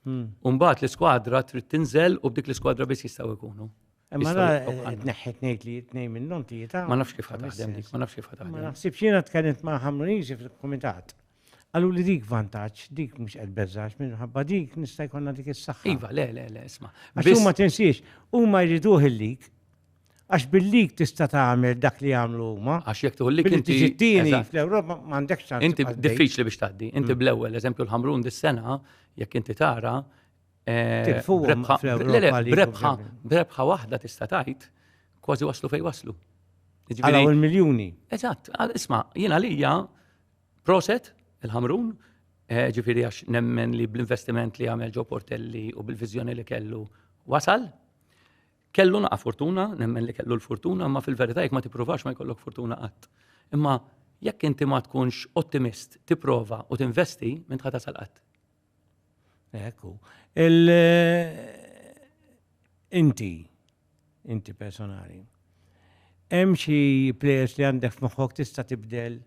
hmm. umbat l-skwadra trid tinżel u b'dik l-skwadra biss jistaw ikunu. Imma la tneħħi tnejt li tnej minnhom tlieta. Ma nafx kif taħdem dik, ma nafx kif taħdem. Ma nafx jiena tkellimt ma' Ħamruniżi fil-kumitat. Għallu li dik vantaġġ, dik mhux qed beżax minħabba dik nista' jkollna dik is-saħħa. Iva, le, le, le, isma'. Għax huma tinsiex, huma jriduh il-lik. Għax bil-lik tista' tagħmel dak li jagħmlu huma. Għax jekk tuħu lik inti. Tiġittini fl-Ewropa m'għandekx ċans. Inti diffiċli biex tgħaddi. Inti mm. bl-ewwel, eżempju l-Ħamrun dis-sena, jekk inti tara, Eh, brebħa, brebħa waħda tista' tgħid kważi waslu fej waslu. Għala u l-miljuni. Eżatt, isma, jiena lija proset il-ħamrun, eh, ġifiri għax nemmen li bl-investiment li għamel ġo portelli u bil-vizjoni li kellu wasal, kellu naqa fortuna, nemmen li kellu l-fortuna, ma fil-verità jek ma tiprovax ma jkollok fortuna qatt. Imma jekk inti ma tkunx ottimist, tiprova u tinvesti, minn tħata sal-qatt. Hekk hu. Il inti inti personali. Hemm xi players li għandek f'moħħok tista' tibdel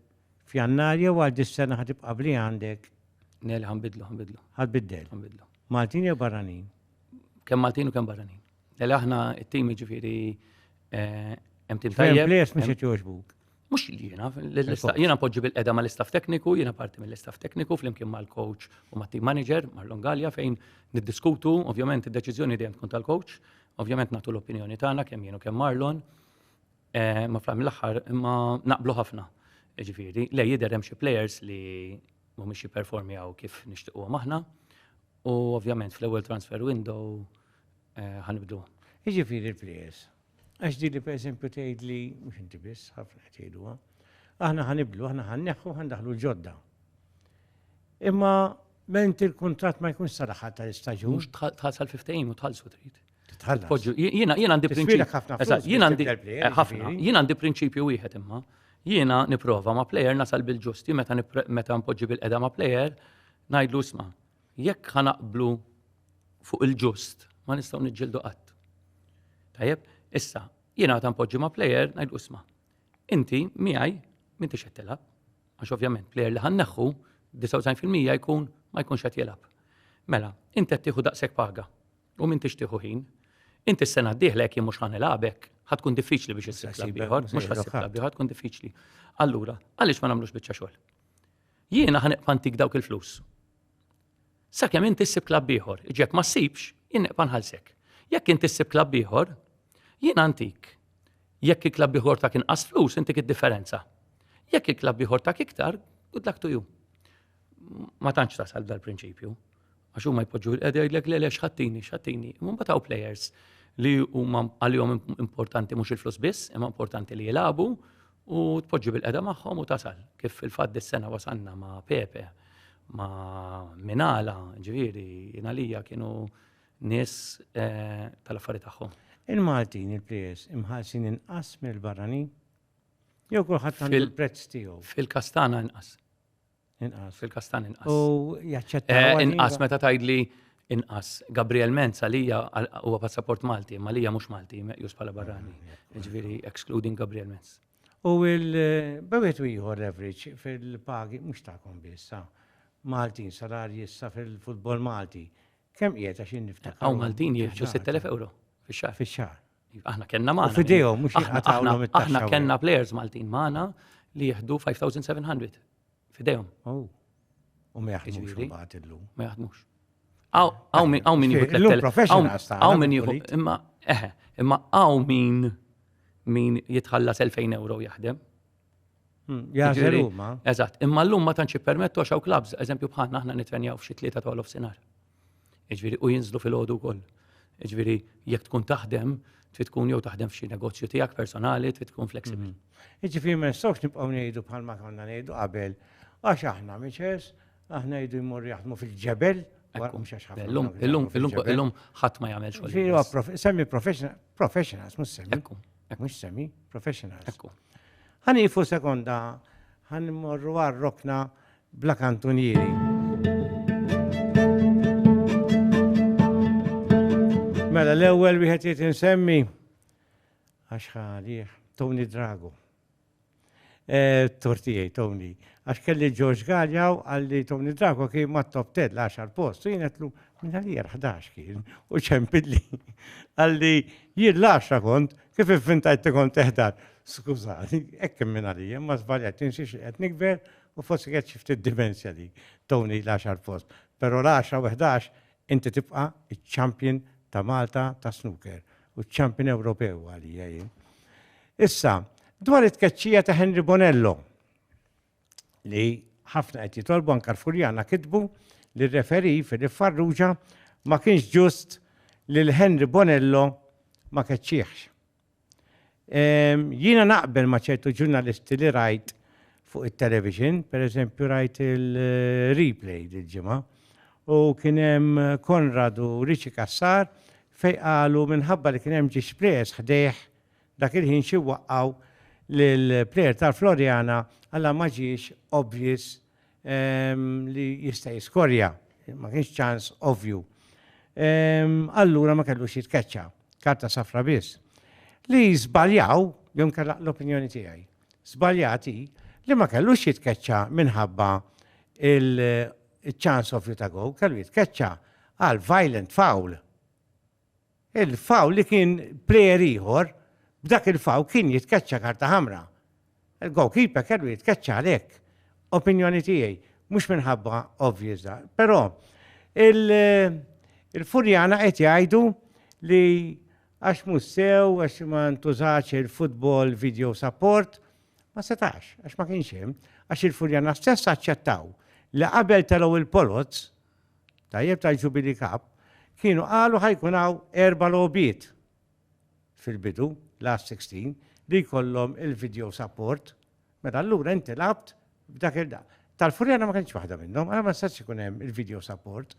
f'Jannar jew għal dis-sena ħad tibqa' bli għandek? Nel ħanbidlu, ħanbidlu. Ħad biddel? Ħanbidlu. Maltin jew barranin? Kemm Maltin u kemm barranin. Nel aħna it-tim jiġifieri eh, hemm tim tajjeb. Players mhux qed jogħġbuk. Mux jiena, jiena poġġi bil-qeda ma l-istaff tekniku, jiena parti mill-istaff tekniku fl-imkien ma l-coach u ma team manager, ma l-Longalja fejn niddiskutu, ovvjament id-deċizjoni dejjem tkun tal-coach, ovvjament natu l-opinjoni tagħna kemm jienu kemm Marlon, eh, ma fl l-aħħar imma naqblu ħafna. Ġifieri, le jidher hemm xi players li mhumiex jipperformjaw kif nixtiequhom aħna u ovvjament fl-ewwel transfer window eh, ħanibdu. Jiġifieri l-players. Għax din li pereżempju tgħid li, mhux inti biss, ħafna qed jgħiduha, aħna ħanibdlu, aħna ħanneħħu, ħandaħlu l-ġodda. Imma ment il-kuntratt ma jkunx sal-aħħar tal-istaġun. Mhux tħassal fi ftehim u tħallsu trid. Tħallas. Jiena jiena għandi prinċipju. Jiena għandi eh, ħafna. Jiena għandi prinċipju wieħed imma. Jiena nipprova ma' plejer nasal bil-ġusti meta mpoġġi bil-qeda ma' plejer ngħidlu isma' Jekk ħa naqblu fuq il-ġust, ma nistgħu niġġieldu qatt. Tajjeb, issa, jiena ta' npoġġi ma' plejer ngħid isma'. Inti miegħi m'intix qed tilgħab, għax ovvjament plejer li ħanneħħu 99% jkun ma jkunx qed jilgħab. Mela, inti qed tieħu daqshekk paga u m'intix tieħu ħin. Inti s-sena d-dieħla jekk jien mhux ħanilgħabek, ħad tkun diffiċli biex issib ieħor, mhux ħassib tkun diffiċli. Allura, għaliex ma nagħmlux biċċa xogħol? Jiena ħa nibqa' ntik dawk il-flus. Sakemm inti ssib klabb ieħor, iġek ma ssibx, jien nibqa' nħallsek. Jekk inti ssib klabb ieħor, jiena ntik. Jekk il-klabb ieħor ta' kien qas flus, intik id-differenza. Jekk il-klabb ieħor ta' iktar, good luck to you. Ma tantx tasal dal-prinċipju. Għax huma jpoġġu qed jgħidlek le le xħattini, xħattini. Imma mbagħad hawn players li huma għalihom importanti mhux il-flus biss, imma importanti li jilagħbu u tpoġġi bil-qeda magħhom u tasal. Kif il-fatt dis-sena wasanna ma' Pepe, ma' Minala, ġifieri, inalija kienu nies eh, tal-affarijiet tagħhom. Il-Maltin, il-players, imħalsin inqas mill-barranin? Jew kulħadd għandu il-prezz tiegħu? Fil-kastana inqas. Inqas. Fil-kas tan inqas. U jaċċetta. Eh, inqas meta tajdli inqas. Gabriel Menz għalija huwa passaport Malti, ma lija mhux Malti, meqjus bħala barrani. Ah, Ġifieri excluding Gabriel Menz. U il-bewet u ieħor average fil-pagi mhux tagħkom biss, ah. Maltin salarji issa fil-futbol Malti. Kemm qiegħed għax niftakar. Hawn Maltin jiġu 6000 euro fix-xahar. Fix-xahar. Aħna kellna magħna. Fidejhom mhux jinqatgħulhom it-taxxa. Aħna kellna players Maltin magħna li jieħdu 5700 fidejhom. Oh. U ma jaħdmux imbagħad illum. Ma jaħdmux. Aw min aw min jieħu 3000. Aw min jieħu imma eħe, imma aw min min jitħallas 2000 euro jaħdem. Hmm, Jażel huma. Eżatt, imma llum ma tantx ippermettu għax hawn klabs, eżempju bħalna aħna nitrenjaw f'xi tlieta ta' olof sinar. Iġviri, u jinżlu fil-ħodu wkoll. Iġviri, jekk tkun taħdem, trid tkun jew taħdem f'xi negozju tiegħek personali, trid tkun flexibbli. Hmm. Iġviri, ma nistgħux nibqgħu ngħidu bħalma konna ngħidu qabel, għax aħna miċes, aħna jdu jmur jaħdmu fil-ġebel, Illum, illum, illum, illum, ħadd ma jagħmel xogħol. Semmi professionals, mhux semmi. mhux semi, professionals. Ekku. Ħan ifu sekonda, ħan morru għal rokna bla kantunieri. Mela l-ewwel wieħed jrid insemmi għax ħalih Tony Drago. Tortijaj, Tony. Għax kelli George Galjaw għalli Tony Drago kien ma top 10 l-10 post. Jien għetlu, minn għalija 11 kien. U ċempilli. Għalli, jien l-10 kont, kif fintajt li kont teħdar. Skużani, ekk minn għalija, ma zbaljat, tinsiex li għet nikber u fossi għet xifti d-dimensja li Tony l-10 post. Pero l-10 u 11 Inti tibqa' ċ-champion ta' Malta tas-snooker u ċ-champion Ewropew għalija jien. Issa, dwar it-tkeċċija ta' Henry Bonello, li ħafna qed jitolbu anke l-Furjana kitbu li r-referee Philip Farrugia ma kienx ġust lil Henry Bonello ma keċċieħx. Jiena naqbel ma' ċertu ġurnalisti li rajt fuq it-television, per eżempju rajt il-replay dil-ġimgħa, u kien hemm Konrad u Riċi Kassar fej qalu minħabba li kien hemm ġiex players ħdejh dak il-ħin xi waqqgħu lill-player tal-Floriana għala ma ġiex obvious li jista' jiskorja, ma kienx ċans ovvju. Allura ma kellux jitkeċċa, karta safra biss. Li żbaljaw, jew kellaq l-opinjoni tiegħi, żbaljati li ma kellux jitkeċċa minħabba il-ċans ovvju ta' gow, kellu jitkeċċa għal violent foul. Il-fawl li kien plejer ieħor, b'dak il-fawl kien jitkeċċa karta ħamra. Il-goalkeeper kellu jitkeċċa għalhekk. Opinjoni tiegħi, mhux minħabba obvious da. Però il-Furjana qed jgħidu li għax mhux sew, għax ma ntużax il-football video support, ma setax, għax ma kienx hemm, għax il-Furjana stess aċċettaw li qabel telgħu il-poloz, Tajjeb tal-Jubilee Cup, kienu qalu ħa jkun hawn erba' logħbiet fil-bidu, last 16, li jkollhom il-video support, mela allura inti lgħabt b'dak il Tal-Furjana ma kienx waħda minnhom, għala ma setax ikun hemm il-video support.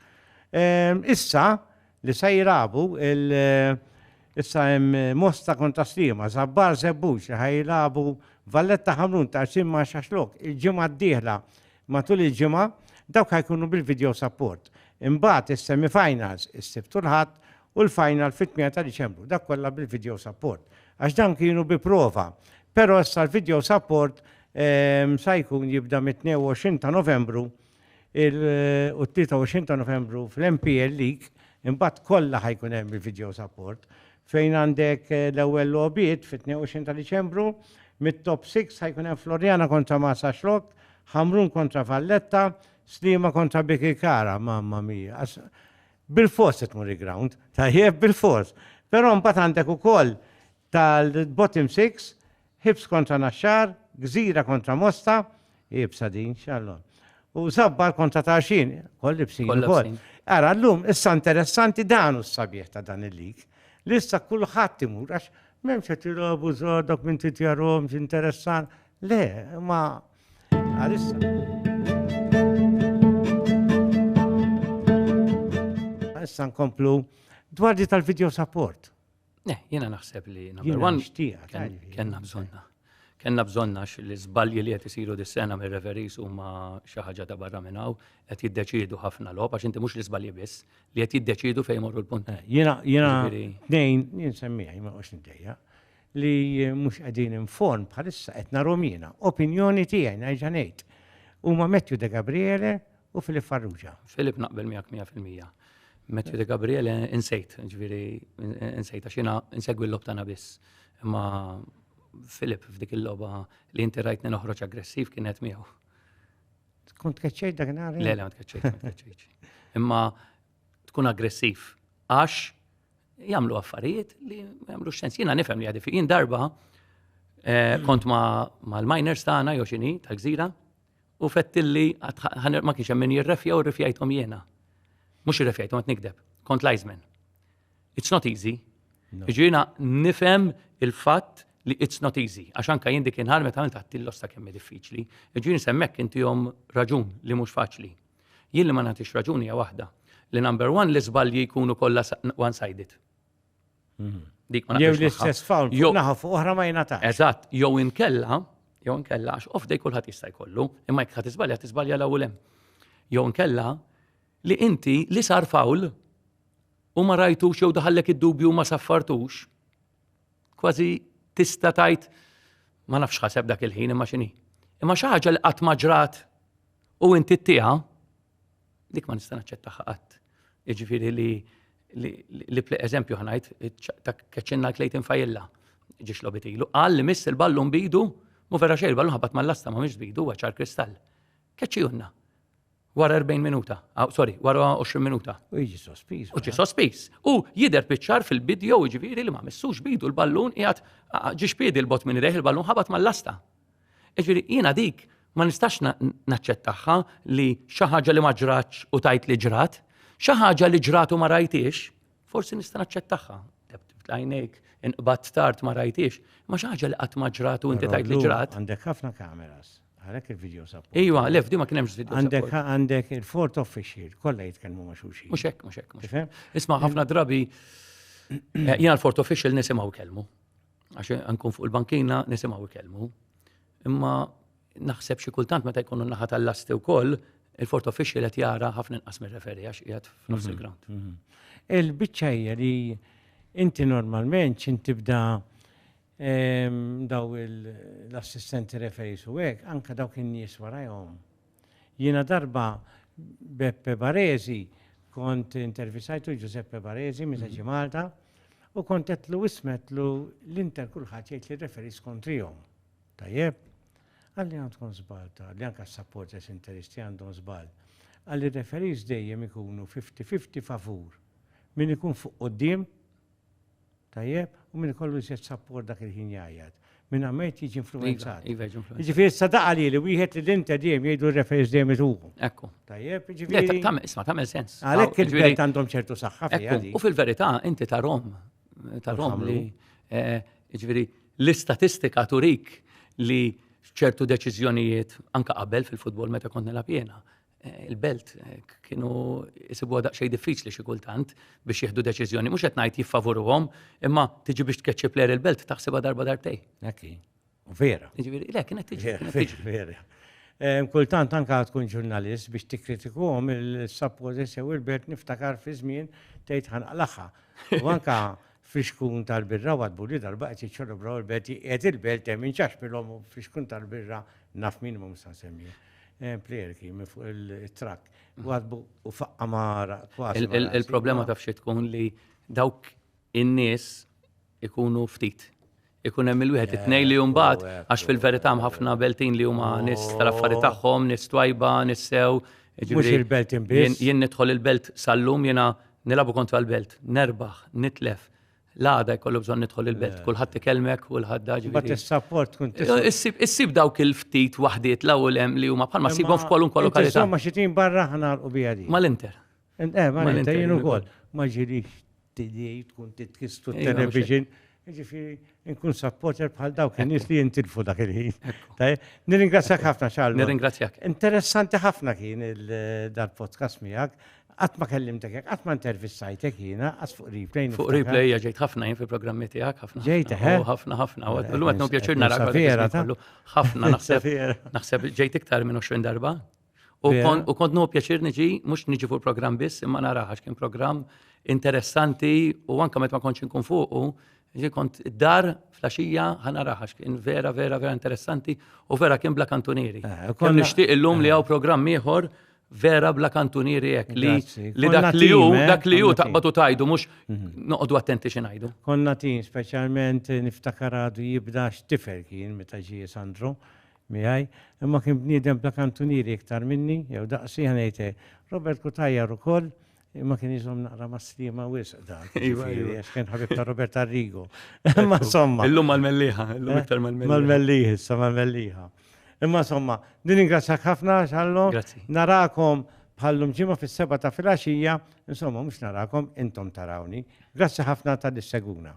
Issa, li se jilagħbu issa hemm Mosta kontra Sliema, Żabbar Żebbux li ħaj jilagħbu Valletta Ħamrun ta' qsim ma' Xaxlok il-ġimgħa d-dieħla matul il-ġimgħa, dawk ħajkunu bil-video support. Imbagħad is-semifinals is-Sibt u l-Ħadd u l-final fit-8 ta' Diċembru, dak kollha bil-video support. Għax dawn kienu bi prova, però issa l-video support sa jkun jibda mit-22 ta' Novembru u t-23 ta' Novembru fl-MPL League, imbagħad kollha ħajkun hemm il-video support fejn għandek eh, l-ewwel logħbiet fit-22 ta' Diċembru, mit-top 6 ħajkun hemm Floriana kontra Massa Xlok, Ħamrun kontra Valletta, Slima kontra Biki Kara, mamma mia. Bil-fos qed muri ground, tajjeb bil-fos. Però mbagħad għandek ukoll tal-bottom 6 Ħibs kontra Naxxar, Gżira kontra Mosta, iebsa din, x'għallu. U Żabbar kontra Tarxin, koll ibsin Kollha ukoll. bsin. Ara llum issa interessanti dan hu s-sabiħ ta' dan il-lig, li issa kulħadd imur għax m'hemmx qed jilgħobu żgħar dawk minn titjarhomx interessan. Le, ma għalissa. Issa nkomplu dwar di tal-video support. Ne, jena naħseb li number one. Kenna bżonna. Kenna bżonna li zbalji li qed isiru dis-sena mir referis huma xi ħaġa ta' barra minn hawn qed jiddeċidu ħafna lob għax inti mhux li żbalji biss li qed jiddeċidu fejn morru l-punt. Eh, jiena jiena dejn jien semmija ma qux nidejja li mhux qegħdin inform bħalissa qed narhom jiena. Opinjoni tiegħi ngħid huma Matthew De Gabriele u Filip Farrugia. Filip naqbel miegħek 100%. Matthew De Gabriele insejt, ġviri insejt għax jiena insegwi l-lob tagħna biss. Imma Filip f'dik il-logħba li inti rajtni noħroġ aggressiv kienet miegħu. Tkun tkeċċejt dak nhar? Le, le, ma tkeċċejt, Imma tkun aggressiv għax jagħmlu affarijiet li ma jagħmlux sens. Jiena nifhem li għadif. Jien darba eh, kont ma' l-miners tagħna jew xini tal-gżira u fettilli ma kienx hemm min jirrefja u rrefjajthom jiena. Mhux irrefjajthom qed nikdeb, kont lajżmen. It's not easy. Ġiena nifhem il-fatt li it's not easy, għax anka jien dik inħar meta għamilt għattil losta kemm diffiċli, ġieni semmek intihom raġun li mhux faċli. Jien li ma nagħtix raġuni hija waħda, li number one li żbalji jkunu kollha one-sided. Jew l-istess fawl, jew naħa fuq oħra ma jingħatax. Eżatt, jew inkella, jew inkella, għax off day kulħadd jista' jkollu, imma jekk ħadd iżbalja, tiżbalja l-ewwel hemm. Jew inkella li inti li sar fawl u ma rajtux jew daħallek id-dubju ma saffartux, kważi tista' tajt ma nafx ħaseb dak il-ħin imma x'inhi. Imma xi ħaġa li qatt ma ġrat u inti ttiha, Dik ma nista' naċċettaha qatt. Jiġifieri li li eżempju ħanajt ta' keċċinna l-klejtin fajilla ġiex lobit ilu. Qal li miss il-ballun bidu, mu vera xejn il-ballun ħabat mal-lasta ma mhix bidu ċar kristall. Keċċijunna. Wara 40 minuta, ah, sorry, wara 20 minuta. U jiġi sospiż. U ġi sospiż. U jider biċċar fil-bidjo ġifieri li ma missux bidu l-ballun qiegħed ġiex piedi l-bot minn reħ il-ballun ħabat mal-lasta. Jiġifieri jiena dik ma nistax naċċettaha li xi ħaġa li ma ġratx u tajt li ġrat, xi ħaġa li ġrat u ma rajtix, forsi nista' naċċettaha. Lajnejk inqbad tard ma rajtix, ma xi ħaġa li qatt ma ġrat u inti tajt li ġrat. Għandek ħafna kameras. Għalek il-video support. Iwa, lef, di ma kien hemmx video Għandek għandek il-fort official, kollha jitkellmu ma' xulxin. Mhux hekk, mhux hekk. Isma' ħafna drabi eh, jiena l-fort official nisimgħu kelmu. Għax nkun fuq il-bankina nisimgħu jkellmu. Imma naħseb xi kultant meta jkunu naħa tal-lasti wkoll, il-fort official qed jara ħafna inqas mir-referi għax qiegħed f'nofs mhm. il-ground. Mhm. Il-biċċa hija li inti normalment x'in tibda ehm, daw l-assistenti referi su hekk, anke dawk in-nies warajhom Jiena darba Beppe Baresi kont intervisajtu Giuseppe Baresi minn Reġi Malta u kont qedtlu ismetlu l-inter kulħadd jgħid li referis kontrihom. Tajjeb? Qalli għandkom żball ta' li anke s-supporters interisti għandhom żball. Qalli referis dejjem ikunu fifty fifty favur min ikun fuq quddiem Tajjeb, u min ikollu iżjed sapport dak il-ħin jgħajjat. Min għamejt jiġi influenzat. Iva, iva, jiġi influenzat. Ġifieri issa daqa li li wieħed li l-inta dejjem jgħidu r-referis dejjem ituhu. Ekku. Tajjeb, ġifieri. Tagħmel isma' tagħmel sens. Għalhekk ah, il-belt għandhom ċertu saħħa fiha. U fil-verità inti ta' Rom, ta' Rom li eh, ġifieri l-istatistika turik li ċertu deċiżjonijiet anka qabel fil-futbol meta kont nilgħab jiena Eh, il-belt eh, kienu jisibu daqsxejn diffiċli xi kultant biex jieħdu deċiżjoni. Mhux qed ngħid jiffavuruhom, imma tiġi biex tkeċċi plejer il-belt taħsibha darba darbtej. Ekki. Vera. Jiġifieri, le kienet tiġi. Vera. Eh, kultant anka tkun ġurnalist biex tikkritikuhom il-sappożi sew il-belt niftakar fi żmien tgħid ħanqlaħħa. U anka Fixkun tal-birra watbu li darba qed jiċċelebraw il-belt qiegħed il-belt hemm inċaxpilhom u fixkun tal-birra naf min imma mhux se nsemmi. Eh, Plejerki minn fuq il-trakk watbu u faqqa mara kważi. Il-problema taf xi tkun li dawk in-nies ikunu ftit. ikun hemm il-wieħed it-tnejn li mbagħad għax fil-verità hemm ħafna beltin li huma nies tal-affari tagħhom, nies twajba, nies sew. Mhux il-belt imbien. Jien nidħol il-belt sal-lum jiena nilabu kontra l-belt, nerbaħ, nitlef. L-għada jkollu bżonn nidħol il-belt, kulħadd ikelmek, kulħadd daġi. Ma tissaport tkun Issib dawk il-ftit waħdiet l-ewwel hemm li huma bħalma sibhom f'kwalunkwe lokalità. Ma xi tim barra ħna l-qubija di. Mal-Inter. Jien ukoll ma ġilix t-tili tkun titkistu t-television. Ġifiri, nkun supporter bħal dawk in-nies li jintilfu dak il-ħin. Nirringrazzjak ħafna Charles. Nirringrazzjak. Interessanti ħafna kien dal-podcast miegħek. Qatt ma kellimtek, qatt ma intervistajtek jiena, qatt fuq replay. Fuq replay ġejt ħafna jien fil-programmi tiegħek ħafna. Ġejt ħafna. Ħafna ħafna. Illum qed nopjaċir narak. Ħafna naħseb. Naħseb ġejt iktar minn 20 darba. U kont nuhu pjaċir niġi, mhux niġi fuq il-programm biss, imma naraha għax kien programm interessanti u anke meta ma kontx inkun fuqu, ġi kont id-dar flaxija ħa naraha għax kien vera, vera, vera interessanti u vera kien bla kantunieri. Eh, kont nixtieq illum li hawn programm ieħor vera bla kantunieri hekk li li dak li hu eh, dak li hu taqbadu tajdu mhux mhm. noqogħdu attenti xi ngħidu. Konna tin speċjalment niftakar għadu jibda x'tifel kien meta ġie Sandro miegħi, imma kien bniedem bla kantunieri iktar minni, jew daqsi, ħa ngħid hekk. Robert Cutajar ukoll, imma kien iżomm naqra mas-sliema wisq dan, jiġifieri, għax kien ħabib ta' Robert Arrigo. Imma insomma. Illum mal-Mellieħa, illum eh? iktar mal-Mellieħa. Mal-Mellieħa, issa mal-Mellieħa. Imma insomma, din ingrazzjak ħafna xallu. Narakom bħallum ġimgħa fis-seba ta' filgħaxija, insomma mhux narakom intom tarawni. Grazzi ħafna tal-seguna.